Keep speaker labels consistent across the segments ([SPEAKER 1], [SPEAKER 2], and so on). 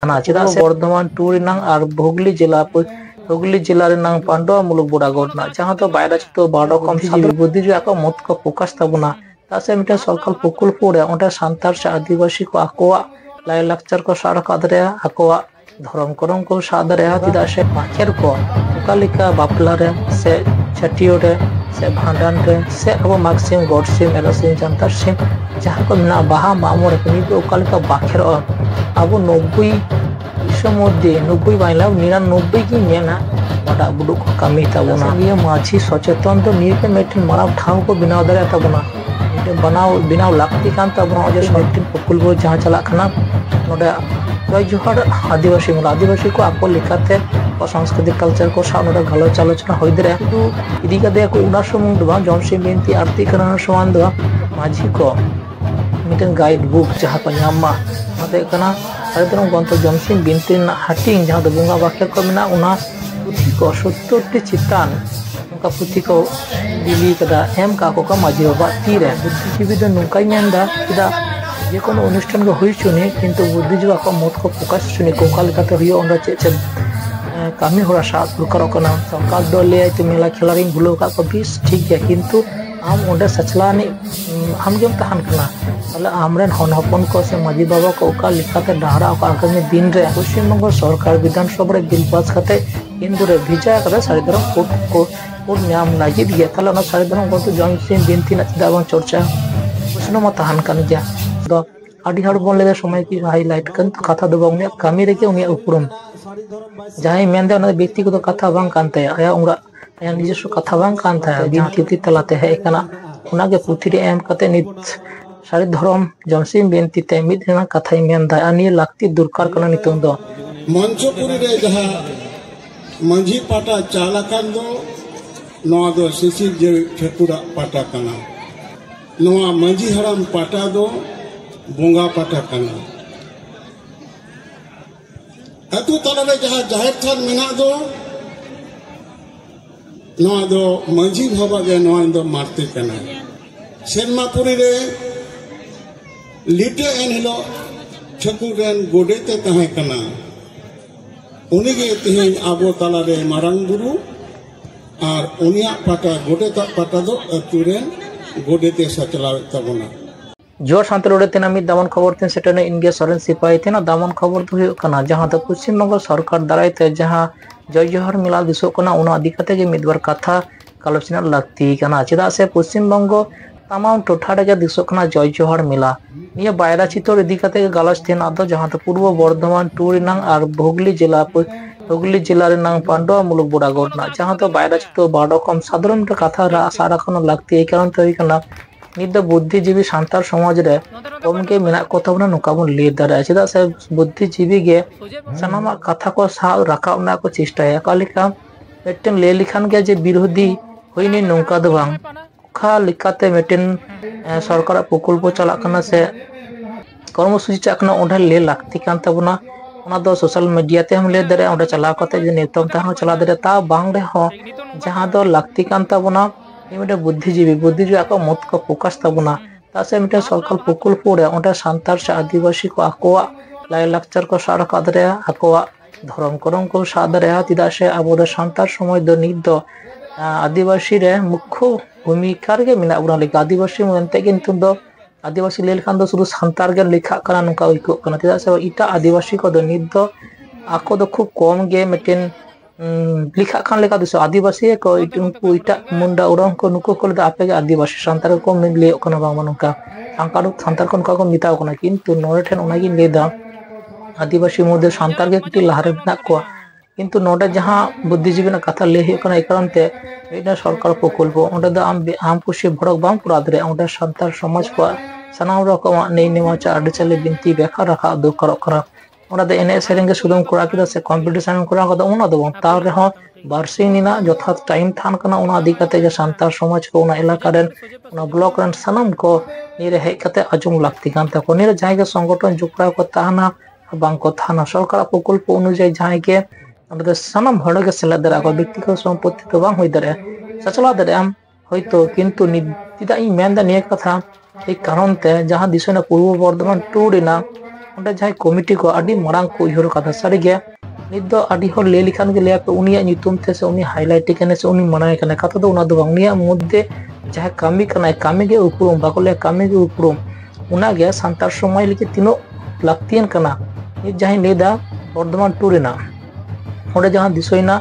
[SPEAKER 1] ᱠᱟᱱᱟ ᱪᱮᱫᱟᱜ ᱯᱩᱨᱵᱚ ᱥᱮ ᱵᱚᱨᱫᱷᱚᱢᱟᱱ ᱴᱩ ᱨᱮᱱᱟᱝ ᱟᱨ ᱦᱩᱜᱽᱞᱤ ᱡᱮᱞᱟ ᱦᱩᱜᱽᱞᱤ ᱡᱮᱞᱟ ᱨᱮᱱᱟᱝ ᱯᱟᱱᱰᱩᱣᱟ ᱢᱩᱞᱩᱠ ᱵᱚᱰᱟ ᱜᱚᱰ ᱨᱮᱱᱟᱜ ᱡᱟᱦᱟᱸ ᱫᱚ ᱵᱟᱭᱨᱟ ᱪᱤᱛᱚ ᱵᱟᱨ ᱨᱚᱠᱚᱢ ᱥᱟᱫᱷᱩ ᱵᱩᱫᱽᱫᱷᱤᱡᱤᱵᱤ ᱵᱩᱫᱷᱤ ᱡᱤᱵᱤ ᱟᱠᱚ ᱢᱚᱛ ᱠᱚ ᱯᱨᱚᱠᱟᱥ ᱛᱟᱵᱚᱱᱟ ᱪᱮᱫᱟᱜ ᱥᱮ ᱢᱤᱫᱴᱮᱱ ᱥᱚᱨᱠᱟᱨ ᱯᱨᱚᱠᱚᱞᱯᱚ ᱨᱮ ᱚᱸᱰᱮ ᱥᱟᱱᱛᱟᱲ ᱥᱮ ᱟᱹᱫᱤᱵᱟᱹᱥᱤ ᱠᱚ ᱟᱠᱚᱣᱟᱜ ᱞᱟᱭ ᱞᱟᱠᱪᱟᱨ ᱠᱚ ᱥᱟᱵ ᱨᱟᱠᱟᱵ ᱫᱟᱲᱮᱭᱟᱜᱼᱟ ᱟᱠᱚᱣᱟᱜ ᱫᱷᱚᱨᱚᱢ ᱠᱚᱨᱚᱢ ᱠᱚ ᱥᱟᱵ ᱫᱟᱲᱮᱭᱟᱜᱼᱟ ᱪᱮᱫᱟᱜ ᱥᱮ ᱢᱟᱪᱮᱫ ᱠᱚ ᱚᱠᱟ ᱞᱮᱠᱟ ᱵᱟᱯᱞᱟ ᱨᱮ ᱥᱮ ᱪᱷᱟᱹᱴᱭᱟᱹᱨ ᱨᱮ ᱥᱮ ᱵᱷᱟᱸᱰᱟᱱ ᱨᱮ ᱥᱮ ᱟᱵᱚ ᱢᱟᱜᱽ ᱥᱤᱢ ᱜᱚᱴ ᱥᱤᱢ ᱮᱨᱚᱜ ᱥᱤᱢ ᱡᱟᱱᱛᱷᱟᱲ ᱥᱤᱢ ᱡᱟᱦᱟᱸ ᱠᱚ ᱢᱮᱱᱟᱜᱼᱟ ᱵᱟᱦᱟ ᱢᱟᱜ ᱢᱚᱬᱮ ᱠᱚ ᱱᱤᱛ ᱚᱠᱟ ᱞᱮᱠᱟ ᱵᱟᱠᱷᱮᱨᱚᱜᱼᱟ ᱟᱵᱚ ᱱᱚᱵᱽᱵᱳᱭ ᱫᱤᱥᱚᱢ ᱢᱚᱫᱽᱫᱷᱮ ᱱᱚᱵᱽᱵᱳᱭ ᱵᱟᱝ ᱞᱟᱹᱭ ᱱᱤᱨᱟᱱᱚᱵᱽᱵᱳᱭ ᱜᱮ ᱢᱮᱱᱟ ᱚᱰᱟᱜ ᱵᱩᱰᱩᱜ ᱠᱚ ᱠᱟᱹᱢᱤ ᱛᱟᱵᱚᱱᱟ ᱱᱤᱭᱟᱹ ᱢᱟᱹᱡᱷᱤ ᱥᱚᱪᱮᱛᱚᱱ ᱫᱚ ᱱᱤᱭᱟᱹ ᱠᱚ ᱢᱤᱫᱴᱮᱱ ᱢᱟᱨᱟᱝ ᱴᱷᱟᱶ ᱠᱚ ᱵᱮᱱᱟᱣ ᱫᱟᱲᱮᱭᱟᱜ ᱛᱟᱵᱚᱱᱟ ᱢᱤᱫᱴᱮᱱ ᱵᱮᱱᱟᱣ ᱵᱮᱱᱟᱣ ᱞᱟᱹᱠᱛᱤ ᱠᱟᱱ ᱛᱟᱵᱚᱱᱟ ᱱᱚᱜᱼᱚᱭ ᱡᱮ ᱢᱤᱫᱴᱮᱱ ᱯᱨᱚᱠᱚᱞᱯᱚ ᱡᱟᱦᱟᱸ ᱪᱟᱞᱟᱜ ᱠᱟᱱᱟ ᱱᱚᱰᱮ ᱡᱚᱭ ᱡᱚᱦᱟᱨ ᱟᱹᱫᱤᱵᱟᱹᱥᱤ ᱢᱮᱞᱟ ᱟᱹᱫᱤᱵᱟᱹᱥᱤ ᱠᱚ ᱟᱠᱚ ᱞᱮᱠᱟᱛᱮ ᱥᱟᱝᱥᱠᱨᱤᱛᱤᱠ ᱠᱟᱞᱪᱟᱨ ᱠᱚ ᱥᱟᱶ ᱱᱚᱰᱮ ᱜᱟᱞᱚᱪ ᱟᱞᱳᱪᱚᱱᱟ ᱦᱩᱭ ᱫᱟᱲᱮᱭᱟᱜᱼᱟ ᱠᱤᱱᱛᱩ ᱤᱫᱤ ᱠᱟᱛᱮ ᱠᱚ ᱚᱱᱟ ᱥᱩᱢᱩᱝ ᱫᱚ ᱵᱟᱝ ᱡᱚᱢᱥᱤᱢ ᱵᱤᱱᱛᱤ ᱟᱨᱛᱤ ᱠᱟᱨᱚᱱ ᱥᱚᱢᱟᱱ ᱫᱚ ᱵᱟᱝ ᱢᱟᱹᱡᱷᱤ ᱠᱚ ᱢᱤᱫᱴᱮᱱ ᱜᱟᱭᱤᱰ ᱵᱩᱠ ᱡᱟᱦᱟᱸ ᱠᱚ ᱧᱟᱢ ᱢᱟ ᱚᱱᱟ ᱫᱚ ᱦᱩᱭᱩᱜ ᱠᱟᱱᱟ ᱟᱞᱮ ᱫᱚ ᱜᱚᱱᱛᱚ ᱡᱚᱢᱥᱤᱢ ᱵᱤᱱᱛᱤ ᱨᱮᱱᱟᱜ ᱦᱟᱹᱴᱤᱧ ᱡᱟᱦᱟᱸ ᱫᱚ ᱵᱚᱸᱜᱟ ᱵᱟᱠᱷᱮ ᱠᱚ ᱢᱮᱱᱟᱜᱼᱟ ᱚᱱᱟ ᱯᱩᱛᱷᱤ ᱠᱚ ᱥᱳᱛᱛᱳᱨ ᱴᱤ ᱪᱮᱛᱟᱱ ᱚᱱᱠᱟ ᱯᱩᱛᱷᱤ ᱠᱚ ᱵᱤᱞᱤ ᱠᱟᱫᱟ ᱮᱢ ᱠᱟᱜ ᱠᱚ ᱢᱟᱹᱡᱷᱤ ᱵᱟᱵᱟᱣᱟᱜ ᱛᱤᱨᱮ ᱵᱩᱫᱽᱫᱷᱤ ᱡᱤᱵᱤ ᱫᱚ ᱱᱚᱝᱠᱟᱭ ᱢᱮᱱᱫᱟ ᱪᱮᱫᱟᱜ ᱡᱮ ᱠᱳᱱᱳ ᱚᱱᱩᱥᱴᱷᱟᱱ ᱜᱮ ᱦᱩᱭ ᱦᱚᱪᱚᱱᱤ ᱠᱤᱱᱛᱩ ᱵᱩᱫᱽᱫᱷᱤ ᱡᱤᱵᱤ ᱟᱠᱚᱣᱟᱜ ᱢᱚᱛ ᱠᱚ ᱯᱨᱚᱠᱟᱥ ᱦᱚᱪᱚᱱᱤ ᱠᱚ ᱚᱠᱟ ᱞᱮᱠᱟᱛᱮ ᱦᱩᱭᱩᱜᱼᱟ ᱚᱸᱰᱮ ᱪᱮᱫ ᱪᱮᱫ ᱠᱟᱹᱢᱤ ᱦᱚᱨᱟ ᱥᱟᱵ ᱫᱚᱨᱠᱟᱨᱚᱜ ᱠᱟᱱᱟ ᱥᱚᱨᱠᱟᱨ ᱫᱚ ᱞᱟᱹᱭᱟᱭ ᱢᱮᱞᱟ ᱠᱷᱮᱞᱟ ᱨᱤᱧ ᱵᱷᱩᱞᱟᱹᱣ ᱠᱟᱜ ᱠᱚᱣᱟ ᱵᱮᱥ ᱴᱷᱤᱠ ᱜᱮᱭᱟ ᱠᱤᱱᱛᱩ ᱟᱢ ᱚᱸᱰᱮ ᱥᱟᱪᱞᱟ ᱟᱹᱱᱤᱡ ᱟᱢᱜᱮᱢ ᱛᱟᱦᱮᱱ ᱠᱟᱱᱟ ᱛᱟᱦᱚᱞᱮ ᱟᱢᱨᱮᱱ ᱦᱚᱱ ᱦᱚᱯᱚᱱ ᱠᱚ ᱥᱮ ᱢᱟᱺᱡᱷᱤ ᱵᱟᱵᱟ ᱠᱚ ᱚᱠᱟ ᱞᱮᱠᱟᱛᱮ ᱰᱟᱦᱟᱨᱟ ᱚᱠᱟ ᱟᱜᱟᱢᱤ ᱫᱤᱱ ᱨᱮ ᱯᱚᱥᱪᱤᱢ ᱵᱚᱝᱜᱚ ᱥᱚᱨᱠᱟᱨ ᱵᱤᱫᱷᱟᱱ ᱥᱚᱵᱷᱟ ᱨᱮ ᱵᱤᱞ ᱯᱟᱥ ᱠᱟᱛᱮ ᱦᱤᱱᱫᱩ ᱨᱮ ᱵᱷᱮᱡᱟ ᱠᱟᱫᱟ ᱥᱟᱹᱨᱤ ᱫᱷᱚᱨᱚᱢ ᱠᱳᱰ ᱠᱚ ᱠᱳᱰ ᱧᱟᱢ ᱞᱟᱹᱜᱤᱫ ᱜᱮ ᱛᱟᱦᱚᱞᱮ ᱚᱱᱟ ᱥᱟᱹᱨᱤ ᱫᱷᱚᱨᱚᱢ ᱠᱳᱰ ᱡᱚᱱᱢ ᱥᱤᱢ ᱵᱤᱱᱛᱤ ᱨᱮᱱᱟᱜ ᱪᱮᱫᱟᱜ ᱵᱟᱝ ᱪᱚᱨᱪᱟ ᱯᱨᱚᱥᱱᱚ ᱢᱟ ᱛᱟᱦᱮᱱ ᱠᱟᱱ ᱜᱮᱭᱟ ᱟᱫᱚ ᱟᱹᱰᱤ ᱦᱚᱲ ᱵᱚᱱ ᱞᱟᱹᱭᱟ ᱥᱚᱢᱚᱭ ᱠᱤ ᱦᱟᱭ ᱞᱟᱭᱤᱴ ᱠᱟᱱ ᱠᱟᱛᱷᱟ ᱫᱚ ᱵᱟᱝ ᱩᱱᱤᱭᱟᱜ ᱠᱟᱹᱢᱤ ᱨᱮᱜᱮ ᱩᱱᱤᱭᱟᱜ ᱩᱯᱨᱩᱢ ᱡᱟᱦᱟᱸᱭ ᱢᱮᱱᱫᱟ ᱚᱱᱟ ᱫᱚ ᱵᱮᱠᱛᱤ ᱜᱚᱛᱚ ᱠᱟᱛᱷᱟ ᱵᱟᱝ ᱠᱟᱱ ᱛᱟᱭᱟ ᱟᱭᱟᱜ ᱚᱲᱟᱜ ᱟᱭᱟᱜ ᱱᱤᱡᱚᱥᱥᱚ ᱠᱟᱛᱷᱟ ᱵᱟᱝ ᱠᱟᱱ ᱛᱟᱭᱟ ᱵᱤᱱᱛᱤ ᱛᱤ ᱛᱟᱞᱟᱛᱮ ᱦᱮᱡ ᱟᱠᱟᱱᱟ ᱚᱱᱟᱜᱮ ᱯᱩᱛᱷᱤ ᱨᱮ ᱮᱢ ᱠᱟᱛᱮ ᱱᱤᱛ ᱥᱟᱹᱨᱤ ᱫᱷᱚᱨᱚᱢ ᱡᱚᱢᱥᱤᱢ ᱵᱤᱱᱛᱤ ᱛᱮ ᱢᱤᱫ ᱨᱮᱱᱟᱜ ᱠᱟᱛᱷᱟᱭ ᱢᱮᱱᱫᱟ ᱟᱨ ᱱᱤᱭᱟᱹ ᱞᱟᱹᱠᱛᱤ ᱫᱚᱨᱠᱟᱨ ᱠᱟᱱᱟ ᱱᱤᱛᱚᱝ ᱫᱚ ᱢᱚᱧᱪᱚᱯᱩᱨᱤ ᱨᱮ
[SPEAKER 2] ᱡᱟᱦᱟᱸ ᱢᱟᱹᱡᱷᱤ ᱯᱟᱴᱟ ᱪᱟᱞ ᱟᱠᱟᱱ ᱫᱚ ᱱᱚᱣᱟ ᱫᱚ ᱥᱤᱥᱤᱨ ᱡᱟᱹᱣᱤᱡ ᱴᱷᱟᱹᱠᱩᱨᱟᱜ ᱯᱟᱴᱟ ᱠᱟᱱᱟ ᱱᱚᱣᱟ ᱢᱟᱹᱡᱷᱤ ᱦᱟᱲᱟᱢ ᱯᱟᱴᱟ ᱫᱚ ᱵᱚᱸᱜᱟ ᱯᱟᱴᱟ ᱠᱟᱱᱟ ᱟᱛᱳ ᱛᱟᱞᱟᱨᱮ ᱡᱟᱦᱟᱸ ᱡᱟᱦᱮᱨ ᱛᱷᱟᱱ ᱢᱮᱱᱟᱜ ᱫᱚ ᱱᱚᱣᱟ ᱫᱚ ᱢᱟᱹᱡᱷᱤ ᱵᱟᱵᱟ ᱜᱮ ᱱᱚᱣᱟ ᱫᱚ ᱢᱟᱨᱛᱮ ᱠᱟᱱᱟ ᱥᱮᱨᱢᱟ ᱯᱩᱨᱤ ᱨᱮ ᱞᱤᱴᱟᱹ ᱮᱱ ᱦᱤᱞᱳᱜ ᱴᱷᱟᱹᱠᱩᱨ ᱨᱮᱱ ᱜᱚᱰᱮᱛᱮ ᱛᱟᱦᱮᱸ ᱠᱟᱱᱟ ᱩᱱᱤᱜᱮ ᱛᱮᱦᱮᱧ ᱟᱵᱚ ᱛᱟᱞᱟᱨᱮ ᱢᱟᱨᱟᱝ ᱵᱩᱨᱩ ᱟᱨ ᱩᱱᱤᱭᱟᱜ ᱯᱟᱴᱟ ᱜᱚᱰᱮᱛᱟᱜ ᱯᱟᱴᱟ ᱫᱚ ᱟᱹᱛᱩ ᱨᱮᱱ ᱜᱚᱰᱮᱛᱮ ᱥᱟᱪᱞᱟᱣᱮᱫ ᱛᱟᱵᱚᱱᱟ ᱡᱚ ᱥᱟᱱᱛᱟᱲ
[SPEAKER 1] ᱛᱮᱱᱟ ᱢᱤᱫ ᱫᱟᱢᱟᱱ ᱠᱷᱚᱵᱚᱨ ᱛᱮ ᱥᱮᱴᱮᱨ ᱤᱧ ᱜᱮ ᱥᱚᱨᱮᱱ ᱥᱤᱯᱟᱦᱤ ᱛᱮᱱᱟ ᱫᱟᱢᱟᱱ ᱠᱷᱚᱵᱚᱨ ᱫᱚ ᱦᱩᱭᱩᱜ ᱠᱟᱱᱟ ᱡᱟᱦᱟᱸ ᱫᱚ ᱯᱚᱪᱷᱤᱢ ᱵᱚᱝᱜᱚ ᱥᱚᱨᱠᱟᱨ ᱫᱟᱨᱟᱭ ᱛᱮ ᱡᱟᱦᱟᱸ ᱡᱚᱭ ᱡᱚᱦᱚᱨ ᱢᱮᱞᱟ ᱫᱤᱥᱚᱜ ᱠᱟᱱᱟ ᱚᱱᱟ ᱤᱫᱤ ᱠᱟᱛᱮ ᱜᱮ ᱢᱤᱫ ᱵᱟᱨ ᱠᱟᱛᱷᱟ ᱜᱟᱞᱚᱪ ᱨᱮᱱᱟᱜ ᱞᱟᱹᱠᱛᱤ ᱠᱟᱱᱟ ᱪᱮᱫᱟᱜ ᱥᱮ ᱯᱚᱪᱷᱤᱢ ᱵᱚᱝᱜᱚ ᱛᱟᱢᱟᱢ ᱴᱚᱴᱷᱟ ᱨᱮᱜᱮ ᱫᱤᱥᱚᱜ ᱠᱟᱱᱟ ᱡᱚᱭ ᱡᱚᱦᱟᱨ ᱢᱮᱞᱟ ᱱᱤᱭᱟᱹ ᱵᱟᱭᱨᱟ ᱪᱤᱛᱟᱹᱨ ᱤᱫᱤ ᱠᱟᱛᱮ ᱜᱮ ᱜᱟᱞᱚᱪ ᱛᱮᱱᱟᱜ ᱫᱚ ᱡᱟᱦᱟᱸ ᱫᱚ ᱯᱩᱨᱵᱚ ᱵᱚᱨᱫᱷᱚᱢᱟᱱ ᱴᱩ ᱨᱮᱱᱟᱝ ᱟᱨ ᱦᱩᱜᱽᱞᱤ ᱡᱮᱞᱟ ᱦᱩᱜᱽᱞᱤ ᱡᱮᱞᱟ ᱨᱮᱱᱟᱝ ᱯᱟᱱᱰᱩᱣᱟ ᱢᱩᱞᱩᱠ ᱵᱚᱨᱟᱜᱚᱲ ᱨᱮᱱᱟᱜ ᱡᱟᱦᱟᱸ ᱫᱚ ᱵᱟᱭᱨᱟ ᱪᱤᱛᱟᱹᱨ ᱵᱟᱨ ᱨᱚᱠᱚᱢ ᱥᱟᱫᱷᱟᱨᱚᱱ ᱨᱮ ᱠᱟᱛᱷᱟ ᱨᱮ ᱟᱥᱟ ᱨᱟᱠᱷᱟᱱ ᱞᱟᱹᱠᱛᱤ ᱮᱭ ᱠᱟᱨᱚᱱ ᱛᱮ ᱦᱩᱭ ᱠᱟᱱᱟ ᱱᱤᱛ ᱫᱚ ᱵᱩᱫᱽᱫᱷᱤᱡᱤᱵᱤ ᱥᱟᱱᱛᱟᱲ ᱥᱚᱢᱟᱡᱽ ᱨᱮ ᱠᱚᱢ ᱜᱮ ᱢᱮᱱᱟᱜ ᱠᱚ ᱛᱟᱵᱚᱱᱟ ᱱᱚᱝᱠᱟ ᱵᱚᱱ ᱞᱟᱹᱭ ᱫᱟᱲᱮᱭᱟᱜᱼᱟ ᱪᱮᱫᱟᱜ ᱥᱮ ᱵᱩᱫᱽᱫᱷᱤᱡᱤᱵᱤ ᱜᱮ ᱥᱟᱱᱟᱢᱟᱜ ᱠᱟᱛᱷᱟ ᱠᱚ ᱥᱟᱵ ᱨᱟᱠᱟᱵ ᱨᱮᱱᱟᱜ ᱠᱚ ᱪᱮᱥᱴᱟᱭᱟ ᱚᱠᱟ ᱞᱮᱠᱟ ᱢᱤᱫᱴᱮᱱ ᱞᱟᱹᱭ ᱞᱮᱠᱷᱟᱱ ᱜᱮ ᱡᱮ ᱵᱤᱨᱳᱫᱷᱤ ᱦᱩᱭᱱᱟᱭ ᱱᱚᱝᱠᱟ ᱫᱚ ᱵᱟᱝ ᱚᱠᱟ ᱞᱮᱠᱟᱛᱮ ᱢᱤᱫᱴᱮᱱ ᱥᱚᱨᱠᱟᱨᱟᱜ ᱯᱨᱚᱠᱚᱞᱯᱚ ᱪᱟᱞᱟᱜ ᱠᱟᱱᱟ ᱥᱮ ᱠᱚᱨᱢᱚ ᱥᱩᱪᱤ ᱪᱟᱜ ᱠᱟᱱᱟ ᱚᱸᱰᱮ ᱞᱟᱹᱭ ᱞᱟᱹᱠᱛᱤ ᱠᱟᱱ ᱛᱟᱵᱚᱱᱟ ᱚᱱᱟ ᱫᱚ ᱥᱳᱥᱟᱞ ᱢᱤᱰᱤᱭᱟ ᱛᱮᱦᱚᱸᱢ ᱞᱟᱹᱭ ᱫᱟᱲᱮᱭᱟᱜᱼᱟ ᱚᱸᱰᱮ ᱪᱟᱞᱟᱣ ᱠᱟᱛᱮ ᱡᱩᱫᱤ ᱱᱤᱛᱚᱢ ᱛᱮᱦᱚᱸ ᱪᱟᱞᱟᱣ ᱫᱟᱲᱮᱭᱟᱜᱼᱟ ᱛᱟᱣ ᱵᱟᱝ ᱨᱮᱦᱚᱸ ᱡᱟᱦᱟᱸ ᱫᱚ ᱞᱟᱹᱠᱛᱤ ᱠᱟᱱ ᱛᱟᱵᱚᱱᱟ ᱢᱤᱫ ᱢᱤᱫᱴᱮᱱ ᱵᱩᱫᱽᱫᱷᱤ ᱡᱤᱵᱤ ᱵᱩᱫᱽᱫᱷᱤ ᱡᱤᱵᱤ ᱟᱠᱚᱣᱟᱜ ᱢᱚᱛ ᱠᱚ ᱯᱨᱚᱠᱟᱥ ᱛᱟᱵᱚᱱᱟ ᱪᱮᱫᱟᱜ ᱥᱮ ᱢᱤᱫᱴᱮᱱ ᱥᱚᱨᱠᱟᱨ ᱯᱨᱚᱠᱚᱞᱯᱚ ᱨᱮ ᱚᱸᱰᱮ ᱥᱟᱱᱛᱟᱲ ᱥᱮ ᱟᱹᱫᱤᱵᱟᱹᱥᱤ ᱠᱚ ᱟᱠᱚᱣᱟᱜ ᱞᱟᱭᱼᱞᱟᱠᱪᱟᱨ ᱠᱚ ᱥᱟᱵ ᱨᱟᱠᱟᱵ ᱫᱟᱲᱮᱭᱟᱜᱼᱟ ᱟᱠᱚᱣᱟᱜ ᱫᱷᱚᱨᱚᱢ ᱠᱚᱨᱚᱢ ᱠᱚ ᱥᱟᱵ ᱫᱟᱲᱮᱭᱟᱜᱼᱟ ᱪᱮᱫᱟᱜ ᱥᱮ ᱟᱵᱚ ᱫᱚ ᱥᱟᱱᱛᱟᱲ ᱥᱚᱢᱟᱡᱽ ᱫᱚ ᱱᱤᱛ ᱫᱚ ᱟᱹᱫᱤᱵᱟᱹᱥᱤ ᱨᱮ ᱢᱩᱠᱠᱷᱚ ᱵᱷᱩᱢᱤᱠᱟ ᱨᱮᱜᱮ ᱢᱮᱱᱟᱜ ᱵᱚᱱᱟ ᱞᱮᱠᱟ ᱟᱹᱫᱤᱵᱟᱹᱥᱤ ᱢᱮᱱᱛᱮ ᱜᱮ ᱱᱤᱛᱚᱜ ᱫᱚ ᱟᱹᱫᱤᱵᱟᱹᱥᱤ ᱞᱟᱹᱭ ᱞᱮᱠᱷᱟᱱ ᱫᱚ ᱥᱩᱫᱷᱩ ᱥᱟᱱᱛᱟᱲ ᱜᱮ ᱞᱮᱠᱷᱟᱜ ᱠᱟᱱᱟ ᱱᱚᱝᱠᱟ ᱟᱹᱭᱠᱟᱹᱜ ᱠᱟᱱᱟ ᱪᱮᱫᱟᱜ ᱥᱮ ᱮᱴᱟᱜ ᱟᱹᱫᱤᱵᱟᱹᱥᱤ ᱠᱚᱫᱚ ᱱᱤᱛ ᱫᱚ ᱟᱠᱚ ᱫᱚ ᱠᱷᱩᱵ ᱠᱚᱢ ᱜᱮ ᱢᱤᱫᱴᱮᱱ ᱞᱮᱠᱷᱟᱜ ᱠᱟᱱ ᱞᱮᱠᱟ ᱫᱤᱥᱟᱹᱜ ᱟᱹᱫᱤᱵᱟᱹᱥᱤ ᱠᱚ ᱩᱱᱠᱩ ᱮᱴᱟᱜ ᱢᱩᱱᱰᱟ ᱩᱨᱚᱝ ᱠᱚ ᱱᱩᱠᱩ ᱠᱚ ᱞᱟᱹᱭᱫᱟ ᱟᱯᱮ ᱜᱮ ᱟᱹᱫᱤᱵᱟᱹᱥᱤ ᱥᱟᱱᱛᱟᱲ ᱠᱚ ᱞᱟᱹᱭᱚᱜ ᱠᱟᱱᱟ ᱵᱟᱝᱢᱟ ᱱᱚᱝᱠᱟ ᱥᱟᱱᱛᱟᱲ ᱥᱟᱱᱛᱟᱲ ᱠᱚ ᱱᱚᱝᱠᱟ ᱠᱚ ᱢᱮᱛᱟᱣ ᱠᱟᱱᱟ ᱠᱤᱱᱛᱩ ᱱᱚᱰᱮ ᱴᱷᱮᱱ ᱚᱱᱟᱜᱤᱧ ᱞᱟᱹᱭᱫᱟ ᱟᱹᱫᱤᱵᱟᱹᱥᱤ ᱢᱩᱫᱽᱨᱮ ᱥᱟᱱᱛᱟᱲ ᱜᱮ ᱠᱟᱹᱴᱤᱡ ᱞᱟᱦᱟᱨᱮ ᱢᱮᱱᱟᱜ ᱠᱚᱣᱟ ᱠᱤᱱᱛᱩ ᱱᱚᱰᱮ ᱡᱟᱦᱟᱸ ᱵᱩᱫᱽᱫᱷᱤᱡᱤᱵᱤ ᱨᱮᱱᱟᱜ ᱠᱟᱛᱷᱟ ᱞᱟᱹᱭ ᱦᱩᱭᱩᱜ ᱠᱟᱱᱟ ᱮᱭ ᱠᱟᱨᱚᱱ ᱛᱮ ᱢᱤᱫᱴᱮᱱ ᱥᱚᱨᱠᱟᱨ ᱯᱨᱚᱠᱚᱞᱯᱚ ᱚᱸᱰᱮ ᱫᱚ ᱟᱢ ᱟᱢ ᱠᱩᱥᱤ ᱵᱷᱚᱲᱚᱠ ᱵᱟᱢ ᱠᱚᱨᱟᱣ ᱫᱟᱲᱮᱭᱟᱜᱼᱟ ᱚᱸᱰᱮ ᱥᱟᱱᱛᱟᱲ ᱥᱚᱢᱟᱡᱽ ᱠᱚᱣᱟᱜ ᱥᱟᱱᱟᱢ ᱨᱚᱠᱚᱢᱟᱜ ᱱᱤᱭ ᱱᱮᱢᱟᱪᱟᱨ ᱟᱹᱨᱤᱪᱟᱹᱞᱤ ᱵᱤᱱᱛᱤ ᱵᱮᱠᱷᱟ ᱨᱟᱠᱟᱵ ᱫᱚᱨᱠᱟᱨᱚᱜ ᱠᱟᱱᱟ ᱚᱸᱰᱮ ᱫᱚ ᱮᱱᱮᱡ ᱥᱮᱨᱮᱧ ᱜᱮ ᱥᱩᱫᱷᱩᱢ ᱠᱚᱨᱟᱣ ᱠᱮᱫᱟ ᱥᱮ ᱠᱚᱢᱯᱤᱴᱤᱥᱚᱱ ᱮᱢ ᱠᱚᱨᱟᱣ ᱠᱮᱫᱟ ᱚᱱᱟ ᱫᱚ ᱵᱟᱝ ᱛᱟᱣ ᱨᱮᱦᱚᱸ ᱵᱟᱨᱥᱤᱧ ᱨᱮᱱᱟᱜ ᱡᱚᱛᱷᱟᱛ ᱴᱟᱭᱤᱢ ᱛᱟᱦᱮᱱ ᱠᱟᱱᱟ ᱚᱱᱟ ᱤᱫᱤ ᱠᱟᱛᱮ ᱜᱮ ᱥᱟᱱᱛᱟᱲ ᱥᱚᱢᱟᱡᱽ ᱠᱚ ᱚᱱᱟ ᱮᱞᱟᱠᱟ ᱨᱮᱱ ᱚᱱᱟ ᱵᱞᱚᱠ ᱨᱮᱱ ᱥᱟᱱᱟᱢ ᱠᱚ ᱱᱤᱭᱟᱹ ᱨᱮ ᱦᱮᱡ ᱠᱟᱛᱮ ᱟᱸᱡᱚᱢ ᱞᱟᱹᱠᱛᱤ ᱠᱟᱱ ᱛᱟᱠᱚᱣᱟ ᱱᱤᱭᱟᱹ ᱨᱮ ᱡᱟᱦᱟᱸᱭ ᱜᱮ ᱥᱚᱝᱜᱚᱴᱷᱚᱱ ᱡᱚᱯᱲᱟᱣ ᱠᱚ ᱛᱟᱦᱮᱱᱟ ᱵᱟᱝ ᱠᱚ ᱛᱟᱦᱮᱱᱟ ᱥᱚᱨᱠᱟᱨᱟᱜ ᱯᱨᱚᱠᱚᱞᱯᱚ ᱚᱱᱩᱡᱟᱭᱤ ᱡᱟᱦᱟᱸᱭ ᱜᱮ ᱚᱸᱰᱮ ᱫᱚ ᱥᱟᱱᱟᱢ ᱦᱚᱲ ᱜᱮ ᱥᱮᱞᱮᱫ ᱫᱟᱲᱮᱭᱟᱜᱼᱟ ᱠᱚ ᱵᱮᱠᱛᱤᱜᱚᱛ ᱥᱚᱢᱯᱚᱛᱛᱤ ᱫᱚ ᱵᱟᱝ ᱦᱩᱭ ᱫᱟᱲᱮᱭᱟᱜᱼᱟ ᱪᱟᱪᱞᱟᱣ ᱫᱟᱲᱮᱭᱟᱜᱼᱟᱢ ᱦᱳᱭᱛᱳ ᱠᱤᱱᱛᱩ ᱱᱤᱛ ᱪᱮᱫᱟᱜ ᱤᱧ ᱢᱮᱱᱫᱟ ᱱᱤᱭᱟᱹ ᱠᱟᱛᱷᱟ ᱮᱭ ᱠᱟᱨᱚᱱ ᱛᱮ ᱡᱟᱦᱟᱸ ᱫᱤᱥᱟᱹ ᱨᱮᱱᱟᱜ ᱯᱩᱨᱵᱚ ᱵᱚᱨᱫᱷᱚᱢᱟᱱ ᱴᱩ ᱨᱮᱱᱟᱜ ᱚᱸᱰᱮ ᱡᱟᱦᱟᱸᱭ ᱠᱚᱢᱤᱴᱤ ᱠᱚ ᱟᱹᱰᱤ ᱢᱟᱲᱟᱝ ᱠᱚ ᱩᱭᱦᱟᱹᱨ ᱟᱠᱟᱫᱟ ᱥᱟᱹᱨᱤ ᱜᱮ ᱱᱤᱛ ᱫᱚ ᱟᱹᱰᱤ ᱦᱚᱲ ᱞᱟᱹᱭ ᱞᱮᱠᱷᱟᱱ ᱜᱮ ᱞᱟᱹᱭᱟ ᱠᱚ ᱩᱱᱤᱭᱟᱜ ᱧᱩᱛᱩᱢ ᱛᱮ ᱥᱮ ᱩᱱᱤ ᱦᱟᱭᱞᱟᱭᱤᱴ ᱠᱟᱱᱟ ᱥᱮ ᱩᱱᱤ ᱢᱟᱲᱟᱝ ᱮ ᱠᱟᱱᱟ ᱠᱟᱛᱷᱟ ᱫᱚ ᱚᱱᱟ ᱫᱚ ᱵᱟᱝ ᱩᱱᱤᱭᱟᱜ ᱢᱚᱫᱽᱫᱷᱮ ᱡᱟᱦᱟᱸ ᱠᱟᱹᱢᱤ ᱠᱟᱱᱟᱭ ᱠᱟᱹᱢᱤ ᱜᱮ ᱩᱯᱨᱩᱢ ᱵᱟᱠᱚ ᱞᱟᱹᱭᱟ ᱠᱟᱹᱢᱤ ᱜᱮ ᱩᱯᱨᱩᱢ ᱚᱱᱟᱜᱮ ᱥᱟᱱᱛᱟᱲ ᱥᱚᱢᱟᱡᱽ ᱞᱟᱹᱜᱤᱫ ᱛᱤᱱᱟᱹᱜ ᱞᱟᱹᱠᱛᱤᱭᱟᱱ ᱠᱟᱱᱟ ᱱᱤᱛ ᱡᱟᱦᱟᱸᱧ ᱞᱟᱹᱭᱫᱟ ᱵᱚᱨᱫᱷᱚᱢᱟᱱ ᱴᱩ ᱨᱮᱱᱟᱜ ᱚᱸᱰᱮ ᱡᱟᱦᱟᱸ ᱫᱤᱥᱟᱹᱭᱮᱱᱟ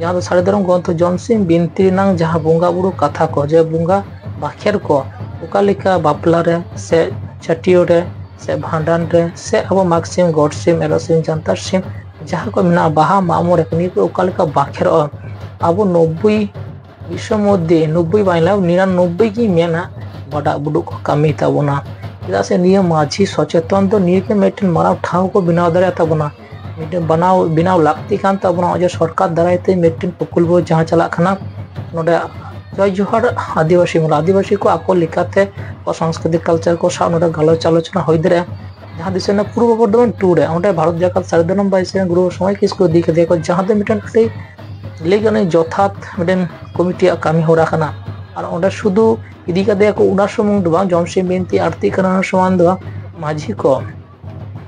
[SPEAKER 1] ᱡᱟᱦᱟᱸ ᱫᱚ ᱥᱟᱹᱨᱤ ᱫᱷᱚᱨᱚᱢ ᱜᱨᱚᱱᱛᱷᱚ ᱡᱚᱢᱥᱤᱢ ᱵᱤᱱᱛᱤ ᱨᱮᱱᱟᱝ ᱡᱟᱦᱟᱸ ᱵᱚᱸᱜᱟ ᱵᱩᱨᱩ ᱠᱟᱛᱷᱟ ᱠᱚ ᱡᱮ ᱵᱚᱸᱜᱟ ᱵᱟᱠᱷᱮᱨ ᱠᱚ ᱚᱠᱟ ᱞᱮᱠᱟ ᱵᱟᱯᱞᱟ ᱨᱮ ᱥᱮ ᱪᱷᱟᱹᱴᱭᱟᱹᱨ ᱨᱮ ᱥᱮ ᱵᱷᱟᱸᱰᱟᱱ ᱨᱮ ᱥᱮ ᱟᱵᱚ ᱢᱟᱜᱽ ᱥᱤᱢ ᱜᱚᱴ ᱥᱤᱢ ᱮᱨᱚᱜ ᱥᱤᱢ ᱡᱟᱱᱛᱟᱲ ᱥᱤᱢ ᱡᱟᱦᱟᱸ ᱠᱚ ᱢᱮᱱᱟᱜᱼᱟ ᱵᱟᱦᱟ ᱢᱟᱜ ᱢᱚᱬᱮ ᱱᱤᱭᱟᱹ ᱠᱚ ᱚᱠᱟ ᱞᱮᱠᱟ ᱵᱟᱠᱷᱮᱨᱚᱜᱼᱟ ᱟᱵᱚ ᱱᱚᱵᱵᱳᱭ ᱵᱤᱥᱥᱚ ᱢᱚᱫᱽᱫᱷᱮ ᱱᱚᱵᱽᱵᱚᱭ ᱵᱟᱝ ᱞᱟᱜᱟᱜᱼᱟ ᱱᱤᱨᱟᱱᱚᱵᱽᱵᱚᱭ ᱜᱮ ᱢᱮᱱᱟ ᱵᱟᱰᱟᱜ ᱵᱩᱰᱩᱜ ᱠᱚ ᱠᱟᱹᱢᱤ ᱛᱟᱵᱚᱱᱟ ᱪᱮᱫᱟᱜ ᱥᱮ ᱱᱤᱭᱟᱹ ᱢᱟᱹᱡᱷᱤ ᱥᱚᱪᱮᱛᱚᱱ ᱫᱚ ᱱᱤᱭᱟᱹ ᱜᱮ ᱢᱤᱫᱴᱮᱱ ᱢᱟᱨᱟᱝ ᱴᱷᱟᱶ ᱠᱚ ᱵᱮᱱᱟᱣ ᱫᱟᱲᱮᱭᱟᱜ ᱛᱟᱵᱚᱱᱟ ᱢᱤᱫᱴᱮᱱ ᱵᱮᱱᱟᱣ ᱵᱮᱱᱟᱣ ᱞᱟᱹᱠᱛᱤ ᱠᱟᱱ ᱛᱟᱵᱚᱱᱟ ᱱᱚᱜᱼᱚᱭ ᱡᱮ ᱥᱚᱨᱠᱟᱨ ᱫᱟᱨᱟᱭ ᱛᱮ ᱢᱤᱫᱴᱮᱱ ᱯᱨᱚᱠᱚᱞᱯᱚ ᱡᱟᱦᱟᱸ ᱪᱟᱞᱟᱜ ᱠᱟᱱᱟ ᱱᱚᱰᱮ ᱡᱚᱭ ᱡᱚᱦᱟᱨ ᱟᱹᱫᱤᱵᱟᱹᱥᱤ ᱢᱮᱞᱟ ᱟᱹᱫᱤᱵᱟᱹᱥᱤ ᱠᱚ ᱟᱠᱚ ᱞᱮᱠᱟᱛᱮ ᱟᱠᱚᱣᱟᱜ ᱥᱟᱝᱥᱠᱨᱤᱛᱤᱠ ᱠᱟᱞᱪᱟᱨ ᱠᱚ ᱥᱟᱶ ᱱᱚᱰᱮ ᱜᱟᱞᱚᱪ ᱟᱞᱳᱪᱚᱱᱟ ᱦᱩᱭ ᱫᱟᱲᱮᱭᱟᱜᱼᱟ ᱡᱟᱦᱟᱸ ᱫᱤᱥᱚᱢ ᱨᱮᱱᱟᱜ ᱯᱩᱨᱵᱚ ᱵᱚᱨᱫᱷᱚᱢᱟᱱ ᱴᱩᱨ ᱨᱮ ᱚᱸᱰᱮ ᱵᱷᱟᱨᱚᱛ ᱡᱟᱠᱟᱛ ᱥᱟᱨᱮᱡ ᱫᱚ ᱱᱚᱝᱠᱟ ᱥᱮ ᱜᱩᱨᱩ ᱥᱚᱢᱟᱡᱽ ᱠᱤᱥᱠᱩ ᱤᱫᱤ ᱠᱟᱛᱮ ᱠᱚ ᱡᱟᱦᱟᱸ ᱫᱚ ᱢᱤᱫᱴᱮᱱ ᱟᱹᱰᱤ ᱞᱟᱹᱭ ᱜᱟᱱᱚᱜᱼᱟ ᱡᱚᱛᱷᱟᱛ ᱢᱤᱫᱴᱮᱱ ᱠᱚᱢᱤᱴᱤᱭᱟᱜ ᱠᱟᱹᱢᱤ ᱦᱚᱨᱟ ᱠᱟᱱᱟ ᱟᱨ ᱚᱸᱰᱮ ᱥᱩᱫᱷᱩ ᱤᱫᱤ ᱠᱟᱛᱮ ᱠᱚ ᱚᱱᱟ ᱥᱩᱢᱩᱝ ᱫᱚ ᱵᱟᱝ ᱡᱚᱢᱥᱤ ᱵᱤᱱᱛᱤ ᱟᱨᱛᱤ ᱠᱟᱱᱟ ᱥᱚᱢᱟᱱ ᱫᱚ ᱵᱟᱝ ᱢᱟᱹᱡᱷᱤ ᱠᱚ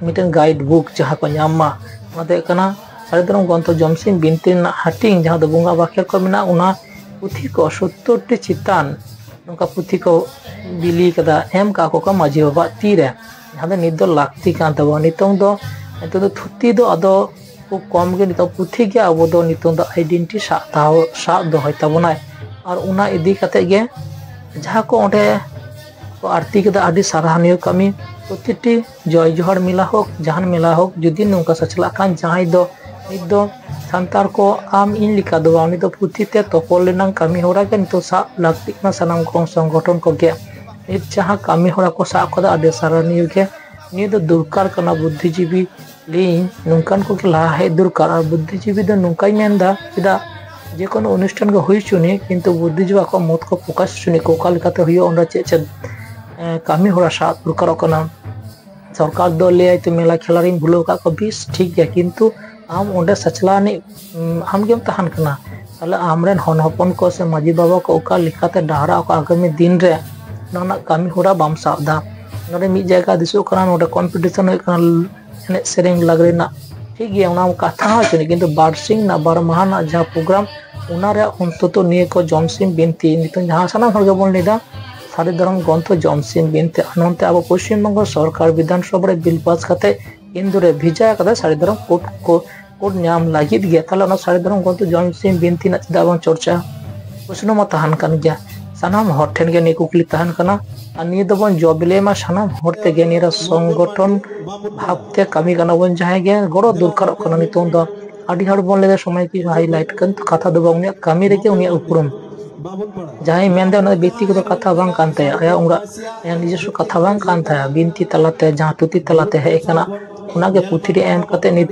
[SPEAKER 1] ᱢᱤᱫᱴᱮᱱ ᱜᱟᱭᱤᱰ ᱵᱩᱠ ᱡᱟᱦᱟᱸ ᱠᱚ ᱧᱟᱢ ᱢᱟ ᱚᱱᱟ ᱫᱚ ᱦᱩᱭᱩᱜ ᱠᱟᱱᱟ ᱥᱟᱹᱨᱤ ᱫᱷᱚᱨᱚᱢ ᱜᱨᱚᱱᱛᱷᱚ ᱡᱚᱢᱥᱤᱢ ᱵᱤᱱᱛᱤ ᱨᱮᱱᱟᱜ ᱦᱟᱹᱴᱤᱧ ᱡᱟᱦᱟᱸ ᱫᱚ ᱵᱚᱸᱜᱟ ᱵᱟᱠᱷᱮᱲ ᱠᱚ ᱢᱮᱱᱟᱜᱼᱟ ᱚᱱᱟ ᱯᱩᱛᱷᱤ ᱠᱚ ᱥᱳᱛᱛᱳᱨ ᱴᱤ ᱪᱮᱛᱟᱱ ᱱᱚᱝᱠᱟ ᱯᱩᱛᱷᱤ ᱠᱚ ᱵᱤᱞᱤ ᱠᱟᱫᱟ ᱮᱢ ᱠᱟᱜ ᱠᱚ ᱢᱟᱹᱡᱷᱤ ᱵᱟᱵᱟᱣᱟᱜ ᱛᱤᱨᱮ ᱡᱟᱦᱟᱸ ᱫᱚ ᱱᱤᱛ ᱫᱚ ᱞᱟᱹᱠᱛᱤ ᱠᱟᱱ ᱛᱟᱵᱚᱱᱟ ᱱᱤᱛᱚᱝ ᱫᱚ ᱱᱤᱛᱚᱝ ᱫᱚ ᱛᱷᱩᱛᱤ ᱫᱚ ᱟᱫᱚ ᱠᱷᱩᱵ ᱠᱚᱢ ᱜᱮ ᱱᱤᱛᱚᱜ ᱯᱩᱛᱷᱤ ᱜᱮ ᱟᱵᱚ ᱫᱚ ᱱᱤᱛᱚᱝ ᱫᱚ ᱟᱭᱰᱮᱱᱴᱤ ᱥᱟᱵ ᱛᱟᱦᱮᱸ ᱥᱟᱵ ᱫᱚᱦᱚᱭ ᱛᱟᱵᱚᱱᱟᱭ ᱟᱨ ᱚᱱᱟ ᱤᱫᱤ ᱠᱟᱛᱮ ᱜᱮ ᱡᱟᱦᱟᱸ ᱠᱚ ᱚᱸᱰᱮ ᱠᱚ ᱟᱨᱛᱤ ᱠᱮᱫᱟ ᱟᱹᱰᱤ ᱥᱟᱨᱦᱟᱣᱱᱤᱭᱚ ᱠᱟᱹᱢᱤ ᱯᱨᱚᱛᱤᱴᱤ ᱡᱚᱭ ᱡᱚᱦᱟᱨ ᱢᱮᱞᱟ ᱦᱳᱠ ᱡᱟᱦᱟᱱ ᱢᱮᱞᱟ ᱦᱳᱠ ᱡᱩᱫᱤ ᱱᱚᱝᱠᱟ ᱥᱟᱪᱞᱟᱜ ᱠᱷᱟᱱ ᱡᱟᱦᱟᱸᱭ ᱫᱚ ᱱᱤᱛ ᱫᱚ ᱥᱟᱱᱛᱟᱲ ᱠᱚ ᱟᱢ ᱤᱧ ᱞᱮᱠᱟ ᱫᱚ ᱵᱟᱝ ᱩᱱᱤ ᱫᱚ ᱯᱩᱛᱷᱤ ᱛᱮ ᱛᱚᱯᱚᱞ ᱨᱮᱱᱟᱝ ᱠᱟᱹᱢᱤ ᱦᱚᱨᱟ ᱜᱮ ᱱᱤᱛᱚᱜ ᱥᱟᱵ ᱞᱟᱹᱠᱛᱤᱜ ᱠᱟᱱᱟ ᱥᱟᱱᱟᱢ ᱠᱚ ᱥᱚᱝᱜᱚᱴᱷᱚᱱ ᱠᱚᱜᱮ ᱱᱤᱛ ᱡᱟᱦᱟᱸ ᱠᱟᱹᱢᱤ ᱦᱚᱨᱟ ᱠᱚ ᱥᱟᱵ ᱟᱠᱟᱫᱟ ᱟᱹᱰᱤ ᱥᱟᱨᱦᱟᱣᱱᱤᱭᱟᱹ ᱜᱮ ᱱᱤᱭᱟᱹ ᱫᱚ ᱫᱚᱨᱠᱟᱨ ᱠᱟᱱᱟ ᱵᱩᱫᱽᱫᱷᱤᱡᱤᱵᱤ ᱞᱟᱹᱭᱟᱹᱧ ᱱᱚᱝᱠᱟᱱ ᱠᱚᱜᱮ ᱞᱟᱦᱟ ᱦᱮᱡ ᱫᱚᱨᱠᱟᱨ ᱟᱨ ᱵᱩᱫᱽᱫᱷᱤᱡᱤᱵᱤ ᱫᱚ ᱱᱚᱝᱠᱟᱧ ᱢᱮᱱᱫᱟ ᱪᱮᱫᱟᱜ ᱡᱮ ᱠᱳᱱᱳ ᱚᱱᱩᱥᱴᱷᱟᱱ ᱜᱮ ᱦᱩᱭ ᱦᱚᱪᱚᱱᱤᱡ ᱠᱤᱱᱛᱩ ᱵᱩᱫᱽᱫᱷᱤᱡᱤᱵᱤ ᱟᱠᱚᱣᱟᱜ ᱢᱚᱛ ᱠᱚ ᱯᱨᱚᱠᱟᱥ ᱦᱚᱪᱚᱱᱤᱡ ᱠᱚ ᱚᱠᱟ ᱞᱮᱠᱟᱛᱮ ᱦᱩᱭᱩᱜᱼᱟ ᱚᱸᱰᱮ ᱪᱮᱫ ᱪᱮᱫ ᱠᱟᱹᱢᱤ ᱦᱚᱨᱟ ᱥᱟᱵ ᱫᱚᱨᱠᱟᱨᱚᱜ ᱠᱟᱱᱟ ᱥᱚᱨᱠᱟᱨ ᱫᱚ ᱞᱟᱹᱭᱟᱭ ᱛᱚ ᱢᱮᱞᱟ ᱠᱷᱮᱞᱟ ᱨᱤᱧ ᱵᱷᱩᱞᱟᱹᱣ ᱟᱠᱟᱫ ᱠᱚᱣᱟ ᱵᱮᱥ ᱴᱷᱤᱠ ᱜᱮᱭᱟ ᱠᱤᱱᱛᱩ ᱟᱢ ᱚᱸᱰᱮ ᱥᱟᱪᱞᱟᱣ ᱟᱹᱱᱤᱡ ᱟᱢᱜᱮᱢ ᱛᱟᱦᱮᱱ ᱠᱟᱱᱟ ᱛᱟᱦᱚᱞᱮ ᱟᱢᱨᱮᱱ ᱦᱚᱱ ᱦᱚᱯᱚᱱ ᱠᱚ ᱥᱮ ᱢᱟᱺᱡᱷᱤ ᱵᱟᱵᱟ ᱠᱚ ᱚᱠᱟ ᱞᱮᱠᱟᱛᱮ ᱰᱟᱦᱟᱨᱟ ᱚᱠᱟ ᱟᱜᱟᱢᱤ ᱫᱤᱱ ᱨᱮ ᱚᱱᱟ ᱨᱮᱱᱟᱜ ᱠᱟᱹᱢᱤ ᱦᱚᱨᱟ ᱵᱟᱢ ᱥᱟᱵ ᱮᱫᱟ ᱱᱚᱰᱮ ᱢᱤᱫ ᱡᱟᱭᱜᱟ ᱫᱤᱥᱟᱹᱜ ᱠᱟᱱᱟ ᱱᱚᱰᱮ ᱠᱚᱢᱯᱤᱴᱤᱥᱚᱱ ᱦᱩᱭᱩᱜ ᱠᱟᱱᱟ ᱮᱱᱮᱡ ᱥᱮᱨᱮᱧ ᱞᱟᱜᱽᱲᱮ ᱨᱮᱱᱟᱜ ᱴᱷᱤᱠ ᱜᱮᱭᱟ ᱚᱱᱟ ᱠᱟᱛᱷᱟ ᱦᱚᱸ ᱪᱮᱫ ᱠᱤᱱᱛᱩ ᱵᱟᱨᱥᱤᱧ ᱨᱮᱱᱟᱜ ᱵᱟᱨ ᱢᱟᱦᱟ ᱨᱮᱱᱟᱜ ᱡᱟᱦᱟᱸ ᱯᱨᱳᱜᱨᱟᱢ ᱚᱱᱟ ᱨᱮᱭᱟᱜ ᱚᱱᱛᱚᱛᱚ ᱱᱤᱭᱟᱹ ᱠᱚ ᱡᱚᱢᱥᱤᱢ ᱵᱤᱱᱛᱤ ᱱᱤᱛᱚᱝ ᱡᱟᱦᱟᱸ ᱥᱟᱱᱟᱢ ᱦᱚᱲ ᱜᱮᱵᱚᱱ ᱞᱟᱹᱭᱫᱟ ᱥᱟᱹᱨᱤ ᱫᱷᱚᱨᱚᱢ ᱜᱨᱚᱱᱛᱷᱚ ᱡᱚᱢᱥᱤᱝ ᱵᱤᱱᱛᱤ ᱟᱨ ᱱᱚᱱᱛᱮ ᱟᱵᱚ ᱯᱚᱥᱪᱤᱢ ᱵᱚᱝᱜᱚ ᱥᱚᱨᱠᱟᱨ ᱵᱤᱫᱷᱟᱱ ᱥᱚᱵᱷᱟ ᱨᱮ ᱵᱤᱞ ᱯᱟᱥ ᱠᱟᱛᱮ ᱤᱱᱫᱩ ᱨᱮ ᱵᱷᱮᱡᱟ ᱟᱠᱟᱫᱟ ᱥᱟᱹᱨᱤ ᱫᱷᱚᱨᱚᱢ ᱠᱳᱰ ᱠᱚ ᱠᱳᱰ ᱧᱟᱢ ᱞᱟᱹᱜᱤᱫ ᱜᱮ ᱛᱟᱦᱚᱞᱮ ᱚᱱᱟ ᱥᱟᱹᱨᱤ ᱫᱷᱚᱨᱚᱢ ᱜᱨᱚᱱᱛᱷᱚ ᱡᱚᱢᱥᱤᱝ ᱵᱤᱱᱛᱤ ᱨᱮᱱᱟᱜ ᱪᱮᱫᱟᱜ ᱵᱟᱝ ᱪᱚᱨᱪᱟ ᱯᱨᱚᱥᱱᱚ ᱢᱟ ᱛᱟᱦᱮᱱ ᱠᱟᱱ ᱜᱮᱭᱟ ᱥᱟᱱᱟᱢ ᱦᱚᱲ ᱴᱷᱮᱱ ᱜᱮ ᱱᱤᱭᱟᱹ ᱠᱩᱠᱞᱤ ᱛᱟᱦᱮᱱ ᱠᱟᱱᱟ ᱟᱨ ᱱᱤᱭᱟᱹ ᱫᱚᱵᱚᱱ ᱡᱚᱵᱤᱞᱮ ᱢᱟ ᱥᱟᱱᱟᱢ ᱦᱚᱲ ᱛᱮᱜᱮ ᱱᱤᱭᱟᱹ ᱥᱚᱝᱜᱚᱴᱷᱚᱱ ᱵᱷᱟᱵᱛᱮ ᱠᱟᱹᱢᱤ ᱠᱟᱱᱟ ᱵᱚᱱ ᱡᱟᱦᱟᱸᱭ ᱜᱮ ᱜᱚᱲᱚ ᱫᱚᱨᱠᱟᱨᱚᱜ ᱠᱟᱱᱟ ᱱᱤᱛᱚᱝ ᱫᱚ ᱟᱹᱰᱤ ᱦᱚᱲ ᱵᱚᱱ ᱞᱟᱹᱭᱫᱟ ᱥᱚᱢᱚᱭ ᱠᱤ ᱦᱟᱭᱞᱟᱭᱤᱴ ᱠᱤᱱᱛᱩ ᱠᱟᱛᱷᱟ ᱫᱚ ᱵᱟᱝ ᱩᱱᱤᱭᱟᱜ ᱠᱟᱹᱢᱤ ᱨᱮᱜᱮ ᱩᱱᱤᱭᱟᱜ ᱩᱯᱨᱩᱢ ᱡᱟᱦᱟᱸᱭ ᱢᱮᱱᱫᱟ ᱚᱱᱟ ᱫᱚ ᱵᱮᱠᱛᱤᱜᱚᱛᱚ ᱠᱟᱛᱷᱟ ᱵᱟᱝ ᱠᱟᱱ ᱛᱟᱭᱟ ᱟᱭᱟᱜ ᱚᱲᱟᱜ ᱟᱭᱟᱜ ᱱᱤᱡᱚᱥᱥᱚ ᱠᱟᱛᱷᱟ ᱵᱟᱝ ᱠᱟᱱ ᱛᱟᱭᱟ ᱵᱤᱱᱛᱤ ᱛᱟᱞᱟᱛᱮ ᱡᱟᱦᱟᱸ ᱛᱷᱩᱛᱤ ᱛᱟᱞᱟᱛᱮ ᱦᱮᱡ ᱟᱠᱟᱱᱟ ᱚᱱᱟᱜᱮ ᱯᱩᱛᱷᱤ ᱨᱮ ᱮᱢ ᱠᱟᱛᱮ ᱱᱤᱛ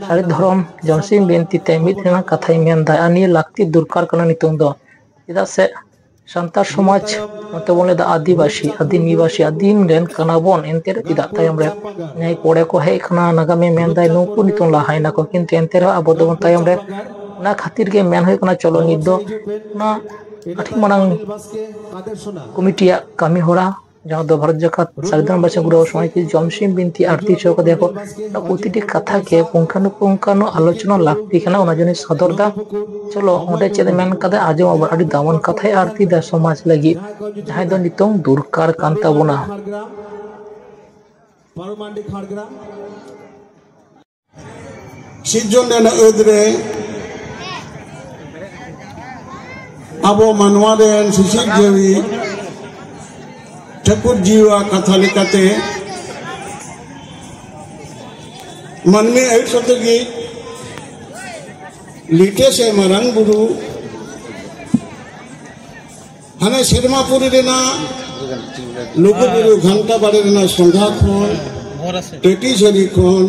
[SPEAKER 1] ᱥᱟᱹᱨᱤ ᱫᱷᱚᱨᱚᱢ ᱡᱚᱱᱥᱤᱝ ᱵᱤᱱᱛᱤ ᱛᱮ ᱢᱤᱫ ᱨᱮᱱᱟᱜ ᱠᱟᱛᱷᱟᱭ ᱢᱮᱱᱫᱟ ᱟᱨ ᱱᱤᱭᱟᱹ ᱞᱟᱹᱠᱛᱤ ᱫᱚᱨᱠᱟᱨ ᱠᱟᱱᱟ ᱱᱤᱛᱚᱝ ᱫᱚ ᱪᱮᱫᱟᱜ ᱥᱮ ᱥᱟᱱᱛᱟᱲ ᱥᱚᱢᱟᱡᱽ ᱱᱚᱛᱮ ᱵᱚᱱ ᱞᱟᱹᱭᱫᱟ ᱟᱹᱫᱤᱵᱟᱹᱥᱤ ᱟᱹᱫᱤᱢ ᱱᱤᱵᱟᱹᱥᱤ ᱟᱹᱫᱤᱢ ᱨᱮᱱ ᱠᱟᱱᱟ ᱵᱚᱱ ᱮᱱᱛᱮ ᱨᱮ ᱪᱮᱫᱟᱜ ᱛᱟᱭᱚᱢ ᱨᱮ ᱱᱮᱭ ᱯᱚᱨᱮ ᱠᱚ ᱦᱮᱡ ᱠᱟᱱᱟ ᱱᱟᱜᱟᱢᱤᱭᱟᱹ ᱢᱮᱱᱫᱟᱭ ᱱᱩᱠᱩ ᱱᱤᱛᱚᱝ ᱞᱟᱦᱟᱭᱮᱱᱟ ᱠᱚ ᱠᱤᱱᱛᱩ ᱮᱱᱛᱮ ᱨᱮᱦᱚᱸ ᱟᱵᱚ ᱫᱚᱵᱚᱱ ᱛᱟᱭᱚᱢ ᱨᱮ ᱚᱱᱟ ᱠᱷᱟᱹᱛᱤᱨ ᱜᱮ ᱢᱮᱱ ᱦᱩᱭᱩᱜ ᱠᱟᱱᱟ ᱪᱚᱞᱚ ᱱᱤᱛ ᱫᱚ ᱚᱱᱟ ᱟᱹᱰᱤ ᱢᱟᱨᱟᱝ ᱠᱚᱢᱤᱴᱤᱭᱟᱜ ᱠᱟᱹᱢᱤ ᱦᱚᱨᱟ ᱡᱟᱦᱟᱸ ᱫᱚ ᱵᱷᱟᱨᱚᱛ ᱡᱟᱠᱟᱛ ᱥᱟᱨᱤᱫᱟᱢ ᱵᱟᱪᱷᱟ ᱜᱩᱨᱩ ᱥᱚᱢᱟᱡᱽ ᱠᱤ ᱡᱚᱢᱥᱤᱢ ᱵᱤᱱᱛᱤ ᱟᱨᱛᱤ ᱦᱚᱪᱚ ᱠᱟᱫᱮᱭᱟ ᱠᱚ ᱯᱨᱚᱛᱤᱴᱤ ᱠᱟᱛᱷᱟ ᱜᱮ ᱯᱩᱝᱠᱷᱟᱱᱩ ᱯᱩᱝᱠᱷᱟᱱᱩ ᱟᱞᱳᱪᱚᱱᱟ ᱞᱟᱹᱠᱛᱤ ᱠᱟᱱᱟ ᱚᱱᱟ ᱡᱚᱱᱤᱧ ᱥᱚᱫᱚᱨ ᱫᱟ ᱪᱚᱞᱚ ᱚᱸᱰᱮ ᱪᱮᱫ ᱢᱮᱱ ᱠᱟᱫᱟ ᱟᱸᱡᱚᱢ ᱟᱵᱚᱱ ᱟᱹᱰᱤ ᱫᱟᱢᱟᱱ ᱠᱟᱛᱷᱟᱭ ᱟᱨᱛᱤ ᱫᱟ ᱥᱚᱢᱟᱡᱽ ᱞᱟᱹᱜᱤᱫ ᱡᱟᱦᱟᱸᱭ ᱫᱚ ᱱᱤᱛᱚᱝ ᱫᱚᱨᱠᱟᱨ ᱠᱟᱱ ᱛᱟᱵᱚᱱᱟ ᱯᱟᱨᱚᱢᱟᱱᱰᱤ ᱠᱷᱟᱲᱜᱨᱟᱢ
[SPEAKER 2] ᱥᱤᱨᱡᱚᱱ ᱨᱮᱱᱟᱜ ᱟᱹᱫ ᱨᱮ ᱟᱵᱚ ᱢᱟᱱᱣᱟ ᱨᱮᱱ ᱥᱤᱥᱤᱨ ᱡᱤᱣᱤ ᱴᱷᱟᱹᱠᱩᱨ ᱡᱤᱣᱟ ᱠᱟᱛᱷᱟ ᱞᱮᱠᱟᱛᱮ ᱢᱟᱹᱱᱢᱤ ᱟᱹᱭᱩᱵ ᱥᱟᱛᱮ ᱜᱮ ᱞᱤᱴᱮ ᱥᱮ ᱢᱟᱨᱟᱝ ᱵᱩᱨᱩ ᱦᱟᱱᱮ ᱥᱮᱨᱢᱟᱯᱩᱨᱤ ᱨᱮᱱᱟᱜ ᱞᱩᱜᱩᱵᱩᱨᱩ ᱜᱷᱟᱱᱴᱟ ᱵᱟᱲᱮ ᱨᱮᱱᱟᱜ ᱥᱚᱸᱜᱷᱟ ᱠᱷᱚᱱ ᱴᱮᱴᱤ ᱥᱟᱹᱨᱤ ᱠᱷᱚᱱ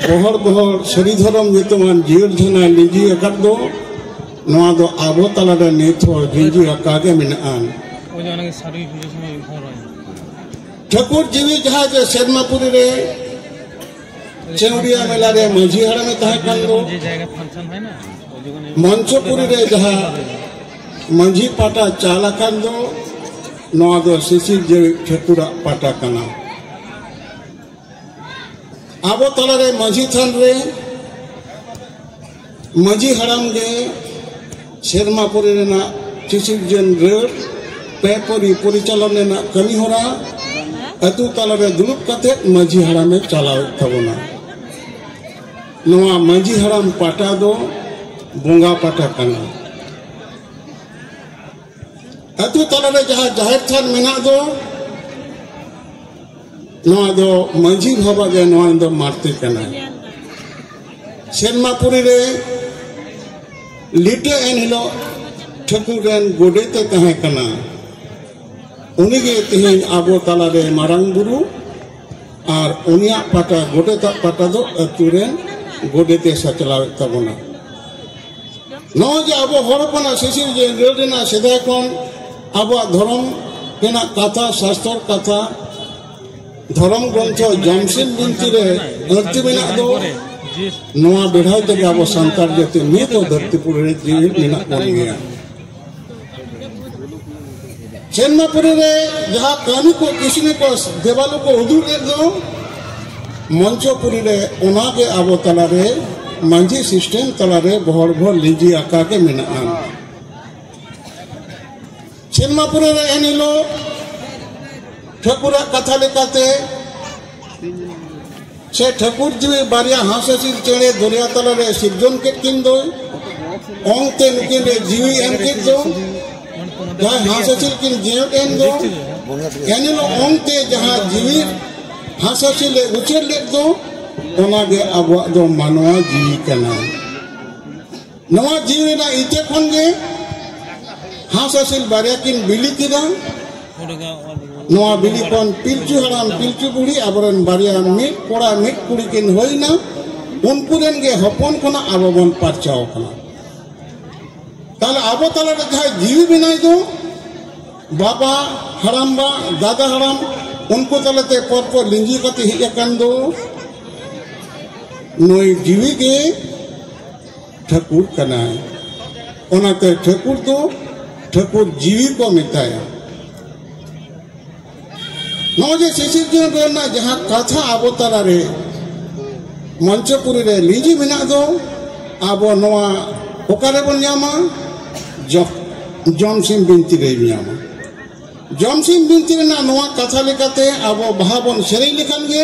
[SPEAKER 2] ᱜᱚᱦᱚᱲ ᱜᱚᱦᱚᱲ ᱥᱟᱹᱨᱤ ᱫᱷᱚᱨᱚᱢ ᱧᱩᱛᱩᱢᱟᱱ ᱡᱤᱭᱟᱹᱲ ᱡᱷᱟᱱᱟ ᱞᱤᱸᱡᱤ ᱟᱠᱟᱫ ᱫᱚ ᱱᱚᱣᱟ ᱫᱚ ᱟᱵᱚ ᱛᱟᱞᱟᱨᱮ ᱱᱤᱛ ᱦᱚᱸ ᱡᱤᱸᱡᱤ ᱟᱠᱟᱫ ᱜᱮ ᱢᱮᱱᱟᱜᱼᱟ ᱴᱷᱟᱹᱠᱩᱨ ᱡᱤᱣᱤ ᱡᱟᱦᱟᱸ ᱡᱮ ᱥᱮᱨᱢᱟᱯᱩᱨᱤ ᱨᱮ ᱪᱮᱣᱲᱤᱭᱟ ᱢᱮᱞᱟ ᱨᱮ ᱢᱟᱹᱡᱷᱤ ᱦᱟᱲᱟᱢᱮ ᱛᱟᱦᱮᱸ ᱠᱟᱱ ᱫᱚ ᱢᱚᱧᱪᱚᱯᱩᱨᱤ ᱨᱮ ᱡᱟᱦᱟᱸ ᱢᱟᱹᱡᱷᱤ ᱯᱟᱴᱟ ᱪᱟᱞ ᱟᱠᱟᱱ ᱫᱚ ᱱᱚᱣᱟ ᱫᱚ ᱥᱤᱥᱤᱨ ᱡᱮᱣᱮᱫ ᱴᱷᱟᱹᱠᱩᱨᱟᱜ ᱯᱟᱴᱟ ᱠᱟᱱᱟ ᱟᱵᱚ ᱛᱟᱞᱟᱨᱮ ᱢᱟᱹᱡᱷᱤ ᱛᱷᱟᱱ ᱨᱮ ᱢᱟᱹᱡᱷᱤ ᱦᱟᱲᱟᱢ ᱜᱮ ᱥᱮᱨᱢᱟ ᱯᱚᱨᱮ ᱨᱮᱱᱟᱜ ᱥᱤᱥᱤᱨ ᱡᱮᱱ ᱨᱟᱹᱲ ᱯᱮ ᱯᱚᱨᱤ ᱯᱚᱨᱤᱪᱟᱞᱚᱱ ᱨᱮᱱᱟᱜ ᱠᱟᱹᱢᱤ ᱦᱚᱨᱟ ᱟᱹᱛᱩ ᱛᱟᱞᱟᱨᱮ ᱫᱩᱲᱩᱵ ᱠᱟᱛᱮ ᱢᱟᱹᱡᱷᱤ ᱦᱟᱲᱟᱢᱮ ᱪᱟᱞᱟᱣᱮᱫ ᱛᱟᱵᱚᱱᱟ ᱱᱚᱣᱟ ᱢᱟᱹᱡᱷᱤ ᱦᱟᱲᱟᱢ ᱯᱟᱴᱟ ᱫᱚ ᱵᱚᱸᱜᱟ ᱯᱟᱴᱟ ᱠᱟᱱᱟ ᱟᱛᱳ ᱛᱟᱞᱟᱨᱮ ᱡᱟᱦᱟᱸ ᱡᱟᱦᱮᱨ ᱛᱷᱟᱱ ᱢᱮᱱᱟᱜ ᱫᱚ ᱱᱚᱣᱟ ᱫᱚ ᱢᱟᱹᱡᱷᱤ ᱵᱟᱵᱟ ᱜᱮ ᱱᱚᱣᱟ ᱫᱚ ᱢᱟᱨᱛᱮ ᱠᱟᱱᱟᱭ ᱥᱮᱱᱢᱟᱯᱩᱨᱤ ᱨᱮ ᱞᱤᱴᱟᱹ ᱮᱱ ᱦᱤᱞᱳᱜ ᱴᱷᱟᱹᱠᱩᱨ ᱨᱮᱱ ᱜᱚᱰᱮᱛᱮ ᱛᱟᱦᱮᱸ ᱠᱟᱱᱟ ᱩᱱᱤᱜᱮ ᱛᱮᱦᱮᱧ ᱟᱵᱚ ᱛᱟᱞᱟᱨᱮ ᱢᱟᱨᱟᱝ ᱵᱩᱨᱩ ᱟᱨ ᱩᱱᱤᱭᱟᱜ ᱯᱟᱴᱟ ᱜᱚᱰᱮᱛᱟᱜ ᱯᱟᱴᱟ ᱫᱚ ᱟᱹᱛᱩ ᱨᱮ ᱜᱚᱰᱮᱛᱮ ᱥᱟᱪᱞᱟᱣᱮᱫ ᱛᱟᱵᱚᱱᱟ ᱱᱚᱜᱼᱚᱭ ᱡᱮ ᱟᱵᱚ ᱦᱚᱲ ᱦᱚᱯᱚᱱᱟᱜ ᱥᱤᱥᱤᱨ ᱡᱮ ᱨᱟᱹᱲ ᱨᱮᱱᱟᱜ ᱥᱮᱫᱟᱭ ᱠᱷᱚᱱ ᱟᱵᱚᱣᱟᱜ ᱫᱷᱚᱨᱚᱢ ᱨᱮᱱᱟᱜ ᱠᱟᱛᱷᱟ ᱥᱟᱥᱛᱚᱨ ᱠᱟᱛᱷᱟ ᱫᱷᱚᱨᱚᱢ ᱜᱨᱚᱱᱛᱷᱚ ᱡᱟᱢᱥᱮᱫ ᱵᱤᱱᱛᱤ ᱨᱮ ᱟᱹᱲᱛᱤ ᱢᱮᱱᱟᱜ ᱫᱚ ᱱᱚᱣᱟ ᱵᱮᱲᱦᱟᱭ ᱛᱮᱜᱮ ᱟᱵᱚ ᱥᱟᱱᱛᱟᱲ ᱡᱟᱹᱛᱤ ᱱᱤᱛ ᱦᱚᱸ ᱫᱷᱟᱹᱨᱛᱤ ᱯᱩᱨᱤ ᱨᱮ ᱡᱤᱣᱤ ᱢᱮᱱᱟᱜ ᱵᱚᱱ ᱜᱮᱭᱟ ᱪᱮᱱᱱᱟᱯᱩᱨᱤ ᱨᱮ ᱡᱟᱦᱟᱸ ᱠᱟᱹᱦᱱᱤ ᱠᱚ ᱠᱤᱥᱱᱤ ᱠᱚ ᱫᱮᱵᱟᱞᱩ ᱠᱚ ᱩᱫᱩᱜ ᱞᱮᱫ ᱫᱚ ᱢᱚᱧᱪᱚᱯᱩᱨᱤ ᱨᱮ ᱚᱱᱟ ᱜᱮ ᱟᱵᱚ ᱛᱟᱞᱟ ᱨᱮ ᱢᱟᱹᱡᱷᱤ ᱥᱤᱥᱴᱮᱢ ᱛᱟᱞᱟ ᱨᱮ ᱵᱚᱦᱚᱲ ᱵᱚᱦᱚᱲ ᱞᱤᱡᱤ ᱟᱠᱟ ᱜᱮ ᱢᱮᱱᱟᱜᱼᱟ ᱪᱮᱱᱱᱟᱯᱩᱨᱤ ᱨᱮ ᱮᱱ ᱦᱤᱞᱳᱜ ᱴᱷᱟᱹᱠᱩᱨᱟᱜ ᱠᱟᱛᱷᱟ ᱞᱮᱠᱟᱛᱮ ᱥᱮ ᱴᱷᱟᱹᱠᱩᱨ ᱡᱤᱣᱤ ᱵᱟᱨᱭᱟ ᱦᱟᱸᱥᱮᱥᱤᱞ ᱪᱮᱬᱮ ᱫᱚᱨᱭᱟ ᱛᱟᱞᱟ ᱨᱮ ᱥᱤᱨᱡᱚᱱ ᱠᱮᱫ ᱠᱤᱱ ᱫᱚᱭ ᱚᱝᱛᱮ ᱱᱩᱠᱤᱱ ᱨᱮ ᱡᱤᱣᱤ ᱮᱢ ᱠᱮᱫ ᱫᱚ ᱡᱟᱦᱟᱸ ᱦᱟᱸᱥᱮᱥᱤᱞ ᱠᱤᱱ ᱡᱤᱭᱚᱱ ᱮᱱ ᱫᱚ ᱮᱱᱦᱤᱞᱳᱜ ᱚᱝᱛᱮ ᱡᱟᱦᱟᱸ ᱡᱤᱣᱤ ᱦᱟᱸᱥᱮᱥᱤᱞ ᱮ ᱩᱪᱟᱹᱲ ᱞᱮᱫ ᱫᱚ ᱚᱱᱟᱜᱮ ᱟᱵᱚᱣᱟᱜ ᱫᱚ ᱢᱟᱱᱣᱟ ᱡᱤᱣᱤ ᱠᱟᱱᱟ ᱱᱚᱣᱟ ᱡᱤᱣᱤ ᱨᱮᱱᱟᱜ ᱤᱛᱟᱹ ᱠᱷᱚᱱ ᱜᱮ ᱦᱟᱸᱥ ᱦᱟᱹᱥᱤᱞ ᱵᱟᱨᱭᱟ ᱠᱤᱱ ᱵᱤᱞᱤ ᱠᱮᱫᱟ ᱱᱚᱣᱟ ᱵᱤᱞᱤ ᱠᱷᱚᱱ ᱯᱤᱞᱪᱩ ᱦᱟᱲᱟᱢ ᱯᱤᱞᱪᱩ ᱵᱩᱲᱦᱤ ᱟᱵᱚᱨᱮᱱ ᱵᱟᱨᱭᱟ ᱢᱤᱫ ᱠᱚᱲᱟ ᱢᱤᱫ ᱠᱩᱲᱤ ᱠᱤᱱ ᱦᱩᱭᱱᱟ ᱩᱱᱠᱩ ᱨᱮᱱ ᱜᱮ ᱦᱚᱯᱚᱱ ᱠᱷᱚᱱᱟᱜ ᱟᱵᱚ ᱵᱚᱱ ᱯᱟᱨᱪᱟᱣ ᱠᱟᱱᱟ ᱛᱟᱦᱞᱮ ᱟᱵᱚ ᱛᱟᱞᱟ ᱨᱮ ᱡᱟᱦᱟᱸᱭ ᱡᱤᱣᱤ ᱢᱮᱱᱟᱭ ᱫᱚ ᱵᱟᱵᱟ ᱦᱟᱲᱟᱢ ᱵᱟ ᱫᱟᱫᱟ ᱦᱟᱲᱟᱢ ᱩᱱᱠᱩ ᱛᱟᱞᱟᱛᱮ ᱯᱚᱨ ᱯᱚᱨ ᱞᱤᱸᱡᱤ ᱠᱟᱛᱮ ᱦᱮᱡ ᱟᱠᱟᱱ ᱫᱚ ᱱᱩᱭ ᱡᱤᱣᱤ ᱜᱮ ᱴᱷᱟᱹᱠᱩᱨ ᱠᱟᱱᱟᱭ ᱚᱱᱟᱛᱮ ᱴᱷᱟᱹᱠᱩᱨ ᱫᱚ ᱴᱷᱟᱹᱠᱩᱨ ᱡᱤᱣᱤ ᱠᱚ ᱢᱮᱛᱟᱭᱟ ᱱᱚᱜᱼᱚᱭ ᱡᱮ ᱥᱤᱥᱤᱨᱡᱚᱱ ᱨᱮᱱᱟᱜ ᱡᱟᱦᱟᱸ ᱠᱟᱛᱷᱟ ᱟᱵᱚ ᱛᱟᱞᱟᱨᱮ ᱢᱚᱧᱪᱚᱯᱩᱨᱤ ᱨᱮ ᱞᱤᱸᱡᱤ ᱢᱮᱱᱟᱜ ᱫᱚ ᱟᱵᱚ ᱱᱚᱣᱟ ᱚᱠᱟᱨᱮ ᱵᱚᱱ ᱧᱟᱢᱟ ᱡᱚᱢᱥᱤᱢ ᱵᱤᱱᱛᱤ ᱨᱮ ᱧᱟᱢᱟ ᱡᱚᱢᱥᱤᱢ ᱵᱤᱱᱛᱤ ᱨᱮᱱᱟᱜ ᱱᱚᱣᱟ ᱠᱟᱛᱷᱟ ᱞᱮᱠᱟᱛᱮ ᱟᱵᱚ ᱵᱟᱦᱟ ᱵᱚᱱ ᱥᱮᱨᱮᱧ ᱞᱮᱠᱷᱟᱱ ᱜᱮ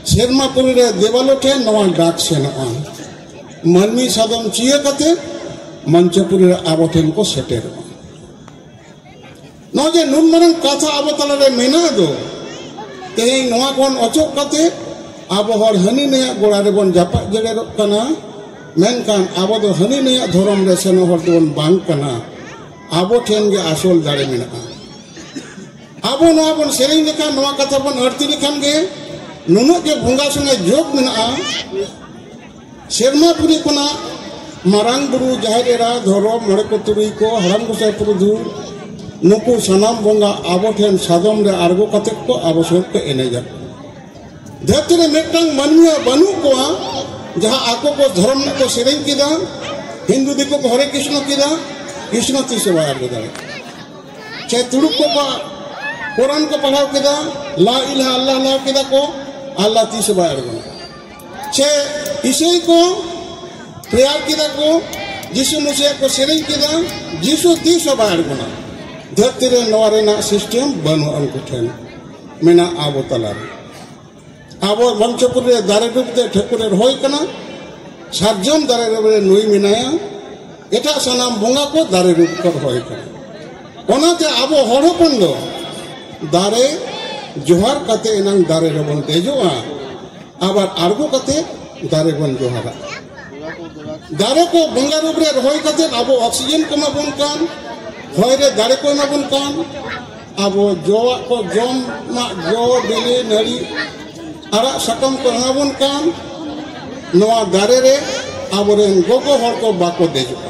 [SPEAKER 2] ᱥᱮᱨᱢᱟ ᱯᱩᱨᱤ ᱨᱮ ᱫᱮᱣᱟᱞᱚ ᱴᱷᱮᱱ ᱱᱚᱣᱟ ᱰᱟᱠ ᱥᱮᱱᱚᱜᱼᱟ ᱢᱟᱹᱱᱢᱤ ᱥᱟᱫᱚᱢ ᱪᱤᱭᱟᱹ ᱠᱟᱛᱮ ᱢᱚᱧᱪᱚᱯᱩᱨᱤ ᱨᱮ ᱟᱵᱚ ᱴᱷᱮᱱ ᱠᱚ ᱥᱮᱴᱮᱨᱚᱜᱼᱟ ᱱᱚᱜᱼᱚᱭ ᱡᱮ ᱱᱩᱱ ᱢᱟᱨᱟᱝ ᱠᱟᱛᱷᱟ ᱟᱵᱚ ᱛᱟᱞᱟᱨᱮ ᱢᱮᱱᱟᱜ ᱫᱚ ᱛᱮᱦᱮᱧ ᱱᱚᱣᱟ ᱠᱷᱚᱱ ᱚᱪᱚᱜ ᱠᱟᱛᱮ ᱟᱵᱚ ᱦᱚᱲ ᱦᱟᱹᱱᱤ ᱱᱟᱹᱭᱟᱜ ᱜᱚᱲᱟ ᱨᱮᱵᱚᱱ ᱡᱟᱯᱟᱜ ᱡᱮᱲᱮᱨᱚᱜ ᱠᱟᱱᱟ ᱢᱮᱱᱠᱷᱟᱱ ᱟᱵᱚ ᱫᱚ ᱦᱟᱹᱱᱤ ᱱᱟᱹᱭᱟᱜ ᱫᱷᱚᱨᱚᱢ ᱨᱮ ᱥᱮᱱᱚᱜ ᱦᱚᱲ ᱫᱚᱵᱚᱱ ᱵᱟᱝ ᱠᱟᱱᱟ ᱟᱵᱚ ᱴᱷᱮᱱ ᱜᱮ ᱟᱥᱚᱞ ᱫᱟᱲᱮ ᱢᱮᱱᱟᱜᱼᱟ ᱟᱵᱚ ᱱᱚᱣᱟ ᱵᱚᱱ ᱥᱮᱨᱮᱧ ᱞᱮᱠᱷᱟᱱ ᱱᱚᱣᱟ ᱠᱟᱛᱷᱟ ᱵᱚᱱ ᱟᱹᱲᱛᱤ ᱞᱮᱠᱷᱟᱱ ᱜᱮ ᱱᱩᱱᱟᱹᱜ ᱜᱮ ᱵᱚᱸᱜᱟ ᱥᱚᱸᱜᱮ ᱡᱳᱜᱽ ᱢᱮᱱᱟᱜᱼᱟ ᱥᱮᱨᱢᱟ ᱯᱩᱨᱤ ᱠᱷᱚᱱᱟᱜ ᱢᱟᱨᱟᱝ ᱵᱩᱨᱩ ᱡᱟᱦᱮᱨ ᱮᱨᱟ ᱫᱷᱚᱨᱚᱢ ᱢᱚᱬᱮ ᱠᱚ ᱛᱩᱨᱩᱭ ᱠᱚ ᱦᱟᱲᱟᱢ ᱜᱚᱸᱥᱟᱭ ᱯᱩᱨᱩᱫᱷᱩ ᱱᱩᱠᱩ ᱥᱟᱱᱟᱢ ᱵᱚᱸᱜᱟ ᱟᱵᱚ ᱴᱷᱮᱱ ᱥᱟᱫᱚᱢ ᱨᱮ ᱟᱬᱜᱚ ᱠᱟᱛᱮ ᱠᱚ ᱟᱵᱚ ᱥᱚᱸᱜᱮ ᱠᱚ ᱮᱱᱮᱡᱟ ᱫᱷᱟᱹᱨᱛᱤ ᱨᱮ ᱢᱤᱫᱴᱟᱝ ᱢᱟᱹᱱᱢᱤ ᱵᱟᱹᱱᱩᱜ ᱠᱚᱣᱟ ᱡᱟᱦᱟᱸ ᱟᱠᱚ ᱠᱚ ᱫᱷᱚᱨᱚᱢ ᱨᱮᱱᱟᱜ ᱠᱚ ᱥᱮᱨᱮᱧ ᱠᱮᱫᱟ ᱦᱤᱱᱫᱩ ᱫᱤᱠᱩ ᱠᱚ ᱦᱚᱨᱮ ᱠᱨᱤᱥᱱᱚ ᱠᱮᱫᱟ ᱠᱨᱤᱥᱱᱚ ᱛᱤᱥ ᱦᱚᱸ ᱵᱟᱭ ᱟᱬᱜᱚ ᱫᱟᱲᱮᱭᱟᱜᱼᱟ ᱪᱮ ᱛᱩᱲᱩᱠ ᱠᱚ ᱠᱚ ᱠᱚᱨᱟᱱ ᱠᱚ ᱯᱟᱲᱦᱟᱣ ᱠᱮᱫᱟ ᱞᱟ ᱤᱞᱦᱟ ᱟᱞᱞᱟ ᱞᱟᱣ ᱠᱮᱫᱟ ᱠᱚ ᱟᱞᱞᱟ ᱛᱤᱥ ᱵᱟᱭ ᱟᱬᱜᱚᱱᱟ ᱪᱮ ᱤᱥᱟᱹᱭ ᱠᱚ ᱯᱨᱮᱭᱟᱨ ᱠᱮᱫᱟ ᱠᱚ ᱡᱤᱥᱩ ᱢᱩᱥᱤᱭᱟ ᱠᱚ ᱥᱮᱨᱮᱧ ᱠᱮᱫᱟ ᱡᱤᱥᱩ ᱛᱤᱥ ᱦᱚᱸ ᱵᱟᱭ ᱟᱬᱜᱚᱱᱟ ᱫᱷᱟᱹᱨᱛᱤ ᱨᱮ ᱱᱚᱣᱟ ᱨᱮᱱᱟᱜ ᱥᱤᱥᱴᱮᱢ ᱵᱟᱹᱱᱩᱜᱼᱟ ᱩᱱᱠᱩ ᱴᱷᱮᱱ ᱢᱮᱱᱟᱜᱼᱟ ᱟᱵᱚ ᱛᱟᱞᱟᱨᱮ ᱟᱵᱚ ᱵᱟᱧᱪᱚᱯᱩᱨ ᱨᱮ ᱫᱟᱨᱮ ᱰᱩᱵ ᱛᱮ ᱴᱷᱟᱹᱠᱩᱨ ᱮ ᱨᱚᱦᱚᱭ ᱠᱟᱱᱟ ᱥᱟᱨᱡᱚᱢ ᱫᱟᱨᱮ ᱰᱩᱵ ᱨᱮ ᱱᱩᱭ ᱢᱮᱱᱟᱭᱟ ᱮᱴᱟᱜ ᱥᱟᱱᱟᱢ ᱵᱚᱸᱜᱟ ᱠᱚ ᱫᱟᱨᱮ ᱰᱩᱵ ᱠᱚ ᱨᱚᱦᱚᱭ ᱠᱟᱱᱟ ᱚᱱᱟᱛᱮ ᱟᱵᱚ ᱦᱚᱲ ᱦᱚᱯᱚᱱ ᱫᱚ ᱫᱟᱨᱮ ᱡᱚᱦᱟᱨ ᱠᱟᱛᱮ ᱮᱱᱟᱝ ᱫᱟᱨᱮ ᱨᱮᱵᱚᱱ ᱫᱮᱡᱚᱜᱼᱟ ᱟᱵᱟᱨ ᱟᱬᱜᱚ ᱠᱟᱛᱮ ᱫᱟᱨᱮ ᱵᱚᱱ ᱡᱚᱦᱟᱨᱟ ᱫᱟᱨᱮ ᱠᱚ ᱵᱚᱸᱜᱟ ᱨᱩᱯ ᱨᱮ ᱨᱚᱦᱚᱭ ᱠᱟᱛᱮ ᱟᱵᱚ ᱚᱠᱥᱤᱡᱮᱱ ᱠᱚ ᱮᱢᱟᱵᱚᱱ ᱠᱟᱱ ᱦᱚᱭ ᱨᱮ ᱫᱟᱨᱮ ᱠᱚ ᱮᱢᱟᱵᱚᱱ ᱠᱟᱱ ᱟᱵᱚ ᱡᱚᱣᱟᱜ ᱠᱚ ᱡᱚᱢᱟᱜ ᱡᱚ ᱵᱤᱞᱤ ᱱᱟᱹᱲᱤ ᱟᱲᱟᱜ ᱥᱟᱠᱟᱢ ᱠᱚ ᱮᱢᱟᱵᱚᱱ ᱠᱟᱱ ᱱᱚᱣᱟ ᱫᱟᱨᱮ ᱨᱮ ᱟᱵᱚᱨᱮᱱ ᱜᱚᱜᱚ ᱦᱚᱲ ᱠᱚ ᱵᱟᱠᱚ ᱫᱮᱡᱚᱜᱼᱟ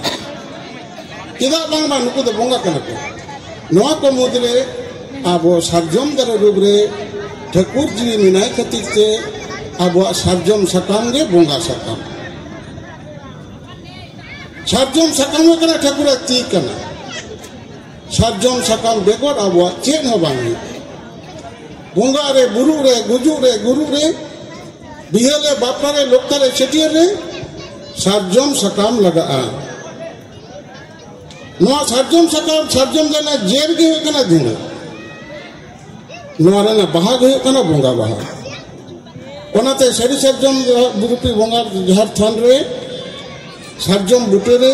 [SPEAKER 2] ᱪᱮᱫᱟᱜ ᱵᱟᱝᱢᱟ ᱱᱩᱠᱩ ᱫᱚ ᱵᱚᱸᱜᱟ ᱠᱟᱱᱟ ᱠᱚ ᱱᱚᱣᱟ ᱠᱚ ᱢᱩᱫᱽᱨᱮ ᱟᱵᱚ ᱥᱟᱨᱡᱚᱢ ᱫᱟᱨᱮ ᱨᱩᱯ ᱨᱮ ᱴᱷᱟᱹᱠᱩᱨ ᱡᱤᱣᱤ ᱢᱮᱱᱟᱭ ᱠᱷᱟᱹᱛᱤᱨ ᱛᱮ ᱟᱵᱚᱣᱟᱜ ᱥᱟᱨᱡᱚᱢ ᱥᱟᱠᱟᱢ ᱜᱮ ᱵᱚᱸᱜᱟ ᱥᱟᱠᱟᱢ ᱥᱟᱨᱡᱚᱢ ᱥᱟᱠᱟᱢ ᱦᱩᱭᱩᱜ ᱠᱟᱱᱟ ᱴᱷᱟᱹᱠᱩᱨᱟᱜ ᱛᱤ ᱠᱟᱱᱟ ᱥᱟᱨᱡᱚᱢ ᱥᱟᱠᱟᱢ ᱵᱮᱜᱚᱨ ᱟᱵᱚᱣᱟᱜ ᱪᱮᱫ ᱦᱚᱸ ᱵᱟᱝ ᱦᱩᱭᱩᱜ ᱵᱚᱸᱜᱟ ᱨᱮ ᱵᱩᱨᱩ ᱨᱮ ᱜᱩᱡᱩᱜ ᱨᱮ ᱜᱩᱨᱩ ᱨᱮ ᱵᱤᱦᱟᱹ ᱨᱮ ᱵᱟᱯᱞᱟ ᱨᱮ ᱞᱚᱠᱛᱟ ᱨᱮ ᱪᱷᱟᱹᱴᱭᱟᱹᱨ ᱨᱮ ᱥᱟᱨᱡᱚᱢ ᱥᱟᱠᱟᱢ ᱞᱟᱜᱟᱜᱼᱟ ᱱᱚᱣᱟ ᱥᱟᱨᱡᱚᱢ ᱥᱟᱠᱟᱢ ᱥᱟᱨᱡᱚᱢ ᱨᱮᱱᱟᱜ ᱡᱮᱨ ᱜᱮ ᱦᱩᱭᱩᱜ ᱠᱟᱱᱟ ᱫᱷᱩᱬᱟᱹ ᱱᱚᱣᱟ ᱨᱮᱱᱟᱜ ᱵᱟᱦᱟ ᱜᱮ ᱦᱩᱭᱩᱜ ᱠᱟᱱᱟ ᱵᱚᱸᱜᱟ ᱵᱟᱦᱟ ᱚᱱᱟᱛᱮ ᱥᱟᱹᱨᱤ ᱥᱟᱨᱡᱚᱢ ᱵᱩᱨᱩᱯᱤ ᱵᱚᱸᱜᱟ ᱡᱟᱦᱮᱨ ᱛᱷᱟᱱ ᱨᱮ ᱥᱟᱨᱡᱚᱢ ᱵᱩᱴᱟᱹ ᱨᱮ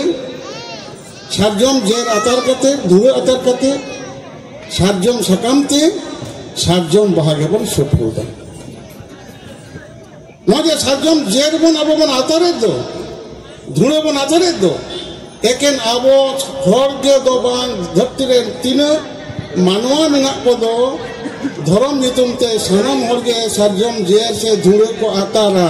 [SPEAKER 2] ᱥᱟᱨᱡᱚᱢ ᱡᱮᱨ ᱟᱛᱟᱨ ᱠᱟᱛᱮ ᱫᱷᱩᱲᱟᱹ ᱟᱛᱟᱨ ᱠᱟᱛᱮ ᱥᱟᱨᱡᱚᱢ ᱥᱟᱠᱟᱢ ᱛᱮ ᱥᱟᱨᱡᱚᱢ ᱵᱟᱦᱟ ᱜᱮᱵᱚᱱ ᱥᱩᱯᱨᱩᱫᱟ ᱱᱚᱣᱟ ᱡᱮ ᱥᱟᱨᱡᱚᱢ ᱡᱮᱨ ᱵᱚᱱ ᱟᱵᱚ ᱵᱚᱱ ᱟᱛᱟᱨᱮᱫ ᱫᱚ ᱫᱷᱩᱲᱟᱹ ᱵᱚᱱ ᱟᱛᱟᱨᱮᱫ ᱫᱚ ᱮᱠᱮᱱ ᱟᱵᱚ ᱦᱚᱲ ᱜᱮ ᱫᱚ ᱵᱟᱝ ᱫᱷᱟᱹᱨᱛᱤ ᱨᱮ ᱛᱤᱱᱟᱹᱜ ᱢᱟᱱᱣᱟ ᱢᱮᱱᱟᱜ ᱠᱚᱫᱚ ᱫᱷᱚᱨᱚᱢ ᱧᱩᱛᱩᱢ ᱛᱮ ᱥᱟᱱᱟᱢ ᱦᱚᱲ ᱜᱮ ᱥᱟᱨᱡᱚᱢ ᱡᱮᱨ ᱥᱮ ᱫᱷᱩᱲᱟᱹ ᱠᱚ ᱟᱛᱟᱨᱟ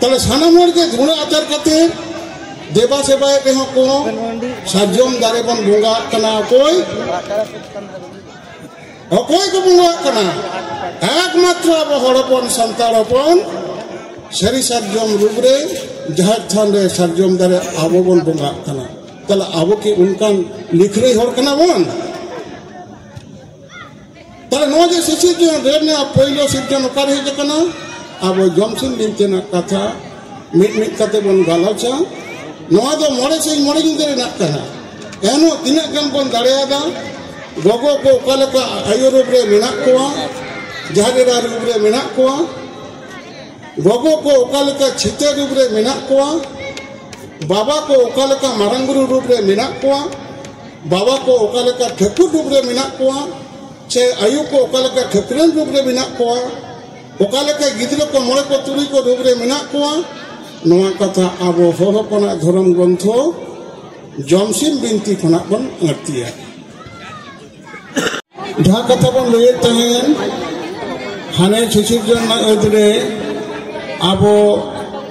[SPEAKER 2] ᱛᱟᱦᱚᱞᱮ ᱥᱟᱱᱟᱢ ᱦᱚᱲ ᱜᱮ ᱜᱩᱬ ᱟᱪᱟᱨ ᱠᱟᱛᱮ ᱫᱮᱵᱟ ᱥᱮᱵᱟᱭ ᱨᱮᱦᱚᱸ ᱠᱚ ᱥᱟᱨᱡᱚᱢ ᱫᱟᱨᱮ ᱵᱚᱱ ᱵᱚᱸᱜᱟ ᱠᱟᱱᱟ ᱚᱠᱚᱭ ᱚᱠᱚᱭ ᱠᱚ ᱵᱚᱸᱜᱟ ᱠᱟᱱᱟ ᱮᱠᱢᱟᱛᱨᱚ ᱟᱵᱚ ᱦᱚᱲ ᱦᱚᱯᱚᱱ ᱥᱟᱱᱛᱟᱲ ᱦᱚᱯᱚᱱ ᱥᱟᱹᱨᱤ ᱥᱟᱨᱡᱚᱢ ᱨᱩᱯ ᱨᱮ ᱡᱟᱦᱮᱨ ᱛᱷᱟᱱ ᱨᱮ ᱥᱟᱨᱡᱚᱢ ᱫᱟᱨᱮ ᱟᱵᱚ ᱵᱚᱱ ᱵᱚᱸᱜᱟ ᱠᱟᱱᱟ ᱛᱟᱦᱚᱞᱮ ᱟᱵᱚ ᱠᱤ ᱚᱱᱠᱟᱱ ᱞᱤᱠᱷᱨᱟᱹᱭ ᱦᱚᱲ ᱠᱟᱱᱟ ᱵᱚᱱ ᱛᱟᱦᱚᱞᱮ ᱱᱚᱣᱟ ᱡᱮ ᱥᱤᱥᱤᱨ ᱡᱚᱱ ᱨᱮ ᱨᱮᱱᱟᱜ ᱯᱳᱭᱞᱳ ᱥᱤᱨᱡᱚᱱ ᱚᱠᱟᱨᱮ ᱦᱮᱡ ᱟᱠᱟᱱᱟ ᱟᱵᱚ ᱡᱚᱢᱥᱤᱢ ᱵᱤᱱᱛᱤ ᱨᱮᱱᱟᱜ ᱠᱟᱛᱷᱟ ᱢᱤᱫ ᱢᱤᱫ ᱠᱟᱛᱮ ᱵᱚᱱ ᱜᱟᱞᱚᱪᱟ ᱱᱚᱣᱟ ᱫᱚ ᱢᱚᱬᱮ ᱥᱤᱧ ᱢᱚᱬᱮ ᱧᱤᱫᱟᱹ ᱨᱮᱱᱟᱜ ᱠᱟᱱᱟ ᱮᱱᱦᱚᱸ ᱛᱤᱱᱟᱹᱜ ᱜᱟᱱ ᱵᱚᱱ ᱫᱟᱲᱮᱭᱟᱫᱟ ᱜᱚᱜᱚ ᱠᱚ ᱚᱠᱟ ᱞᱮᱠᱟ ᱟᱭᱳ ᱨᱩᱯ ᱨᱮ ᱢᱮᱱᱟᱜ ᱠᱚᱣᱟ ᱡᱟᱦᱟᱸ ᱮᱨᱟ ᱨᱩᱯ ᱨᱮ ᱢᱮᱱᱟᱜ ᱠᱚᱣᱟ ᱜᱚᱜᱚ ᱠᱚ ᱚᱠᱟ ᱞᱮᱠᱟ ᱪᱷᱤᱛᱟᱹ ᱨᱩᱯ ᱨᱮ ᱢᱮᱱᱟᱜ ᱠᱚᱣᱟ ᱵᱟᱵᱟ ᱠᱚ ᱚᱠᱟ ᱞᱮᱠᱟ ᱢᱟᱨᱟᱝ ᱵᱩᱨᱩ ᱨᱩᱯ ᱨᱮ ᱢᱮᱱᱟᱜ ᱠᱚᱣᱟ ᱵᱟᱵᱟ ᱠᱚ ᱚᱠᱟ ᱞᱮᱠᱟ ᱴᱷᱟᱹᱠᱩᱨ ᱨᱩᱯ ᱨᱮ ᱢᱮᱱᱟᱜ ᱠᱚᱣᱟ ᱥᱮ ᱟᱭᱳ ᱠᱚ ᱚᱠᱟ ᱞᱮᱠᱟ ᱴᱷᱟᱹᱠᱨᱟᱹᱱ ᱨᱩᱯ ᱨᱮ ᱢᱮᱱᱟᱜ ᱠᱚᱣᱟ ᱚᱠᱟ ᱞᱮᱠᱟ ᱜᱤᱫᱽᱨᱟᱹ ᱠᱚ ᱢᱚᱬᱮ ᱠᱚ ᱛᱩᱨᱩᱭ ᱠᱚ ᱨᱩᱯ ᱨᱮ ᱢᱮᱱᱟᱜ ᱠᱚᱣᱟ ᱱᱚᱣᱟ ᱠᱟᱛᱷᱟ ᱟᱵᱚ ᱦᱚᱲ ᱦᱚᱯᱚᱱᱟᱜ ᱫᱷᱚᱨᱚᱢ ᱜᱨᱚᱱᱛᱷᱚ ᱡᱚᱢᱥᱤᱢ ᱵᱤᱱᱛᱤ ᱠᱷᱚᱱᱟᱜ ᱵᱚᱱ ᱟᱹᱲᱛᱤᱭᱟ ᱡᱟᱦᱟᱸ ᱠᱟᱛᱷᱟ ᱵᱚᱱ ᱞᱟᱹᱭᱮᱫ ᱛᱟᱦᱮᱸᱱ ᱦᱟᱱᱮ ᱥᱤᱥᱤᱨ ᱡᱚᱱ ᱨᱮᱱᱟᱜ ᱟᱹᱫ ᱨᱮ ᱟᱵᱚ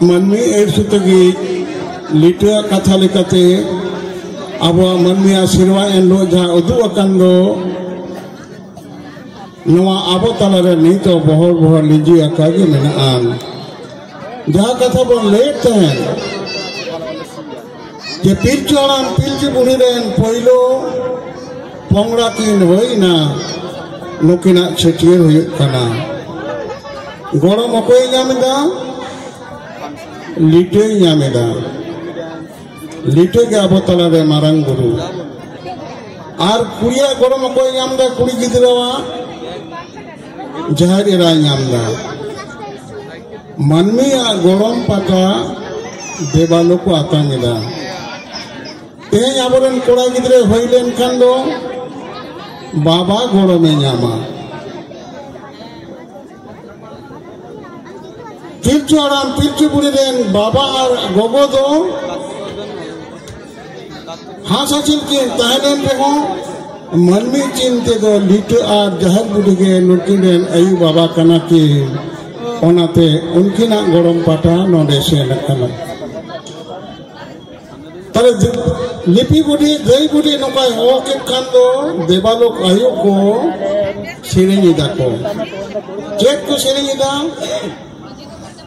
[SPEAKER 2] ᱢᱟᱹᱱᱢᱤ ᱟᱹᱰ ᱥᱩᱛᱟᱹ ᱜᱮ ᱞᱤᱴᱟᱹᱣᱟᱜ ᱠᱟᱛᱷᱟ ᱞᱮᱠᱟᱛᱮ ᱟᱵᱚᱣᱟᱜ ᱢᱟᱹᱱᱢᱤᱭᱟᱜ ᱥᱮᱨᱣᱟ ᱮᱱᱦᱤᱞᱳᱜ ᱡᱟᱦᱟᱸ ᱩᱫᱩᱜ ᱟᱠᱟᱱ ᱫᱚ ᱱᱚᱣᱟ ᱟᱵᱚ ᱛᱟᱞᱟᱨᱮ ᱱᱤᱛ ᱦᱚᱸ ᱵᱚᱦᱚᱲ ᱵᱚᱦᱚᱲ ᱞᱤᱸᱡᱤ ᱟᱠᱟ ᱜᱮ ᱢᱮᱱᱟᱜᱼᱟ ᱡᱟᱦᱟᱸ ᱠᱟᱛᱷᱟ ᱵᱚᱱ ᱞᱟᱹᱭᱮᱫ ᱛᱟᱦᱮᱸᱫ ᱡᱮ ᱯᱤᱞᱪᱩ ᱦᱟᱲᱟᱢ ᱯᱤᱞᱪᱩ ᱵᱩᱲᱦᱤ ᱨᱮᱱ ᱯᱳᱭᱞᱳ ᱯᱚᱝᱲᱟ ᱠᱤᱱ ᱦᱩᱭᱱᱟ ᱱᱩᱠᱤᱱᱟᱜ ᱪᱷᱟᱹᱴᱭᱟᱹᱨ ᱦᱩᱭᱩᱜ ᱠᱟᱱᱟ ᱜᱚᱲᱚᱢ ᱚᱠᱚᱭ ᱧᱟᱢ ᱮᱫᱟ ᱞᱤᱴᱟᱹᱭ ᱧᱟᱢ ᱮᱫᱟ ᱞᱤᱴᱟᱹ ᱜᱮ ᱟᱵᱚ ᱛᱟᱞᱟᱨᱮ ᱢᱟᱨᱟᱝ ᱵᱩᱨᱩ ᱟᱨ ᱠᱩᱲᱤᱭᱟᱜ ᱜᱚᱲᱚᱢ ᱚᱠᱚᱭ ᱧᱟᱢ ᱮᱫᱟ ᱠᱩᱲᱤ ᱜᱤᱫᱽᱨᱟᱹᱣᱟᱜ ᱡᱟᱦᱮᱨ ᱮᱨᱟᱭ ᱧᱟᱢ ᱮᱫᱟ ᱢᱟᱹᱱᱢᱤᱭᱟᱜ ᱜᱚᱲᱚᱢ ᱯᱟᱴᱟ ᱫᱮᱵᱟᱞᱳ ᱠᱚ ᱟᱛᱟᱝ ᱮᱫᱟ ᱛᱮᱦᱮᱧ ᱟᱵᱚᱨᱮᱱ ᱠᱚᱲᱟ ᱜᱤᱫᱽᱨᱟᱹ ᱦᱩᱭ ᱞᱮᱱᱠᱷᱟᱱ ᱫᱚ ᱵᱟᱵᱟ ᱜᱚᱲᱚᱢᱮ ᱧᱟᱢᱟ ᱯᱤᱞᱪᱩ ᱦᱟᱲᱟᱢ ᱯᱤᱞᱪᱩ ᱵᱩᱲᱦᱤ ᱨᱮᱱ ᱵᱟᱵᱟ ᱟᱨ ᱜᱚᱜᱚ ᱫᱚ ᱦᱟᱥᱟ ᱪᱤᱱ ᱠᱤᱱ ᱛᱟᱦᱮᱱᱮᱱ ᱨᱮᱦᱚᱸ ᱢᱟᱹᱱᱢᱤ ᱪᱤᱱ ᱛᱮᱫᱚ ᱞᱤᱴᱟᱹ ᱟᱨ ᱡᱟᱦᱮᱨ ᱵᱩᱰᱷᱤ ᱜᱮ ᱱᱩᱠᱤᱱ ᱨᱮᱱ ᱟᱭᱩ ᱵᱟᱵᱟ ᱠᱟᱱᱟ ᱠᱤᱱ ᱚᱱᱟᱛᱮ ᱩᱱᱠᱤᱱᱟᱜ ᱜᱚᱲᱚᱢ ᱯᱟᱴᱟ ᱱᱚᱰᱮ ᱥᱮᱱ ᱟᱠᱟᱱᱟ ᱛᱟᱦᱞᱮ ᱞᱤᱯᱤ ᱵᱩᱰᱷᱤ ᱜᱟᱹᱭ ᱵᱩᱰᱷᱤ ᱱᱚᱝᱠᱟᱭ ᱦᱚᱦᱚ ᱠᱮᱫ ᱠᱷᱟᱱ ᱫᱚ ᱫᱮᱵᱟᱞᱳᱠ ᱟᱭᱳ ᱠᱚ ᱥᱮᱨᱮᱧ ᱮᱫᱟ ᱠᱚ ᱪᱮᱫ ᱠᱚ ᱥᱮᱨᱮᱧ ᱮᱫᱟ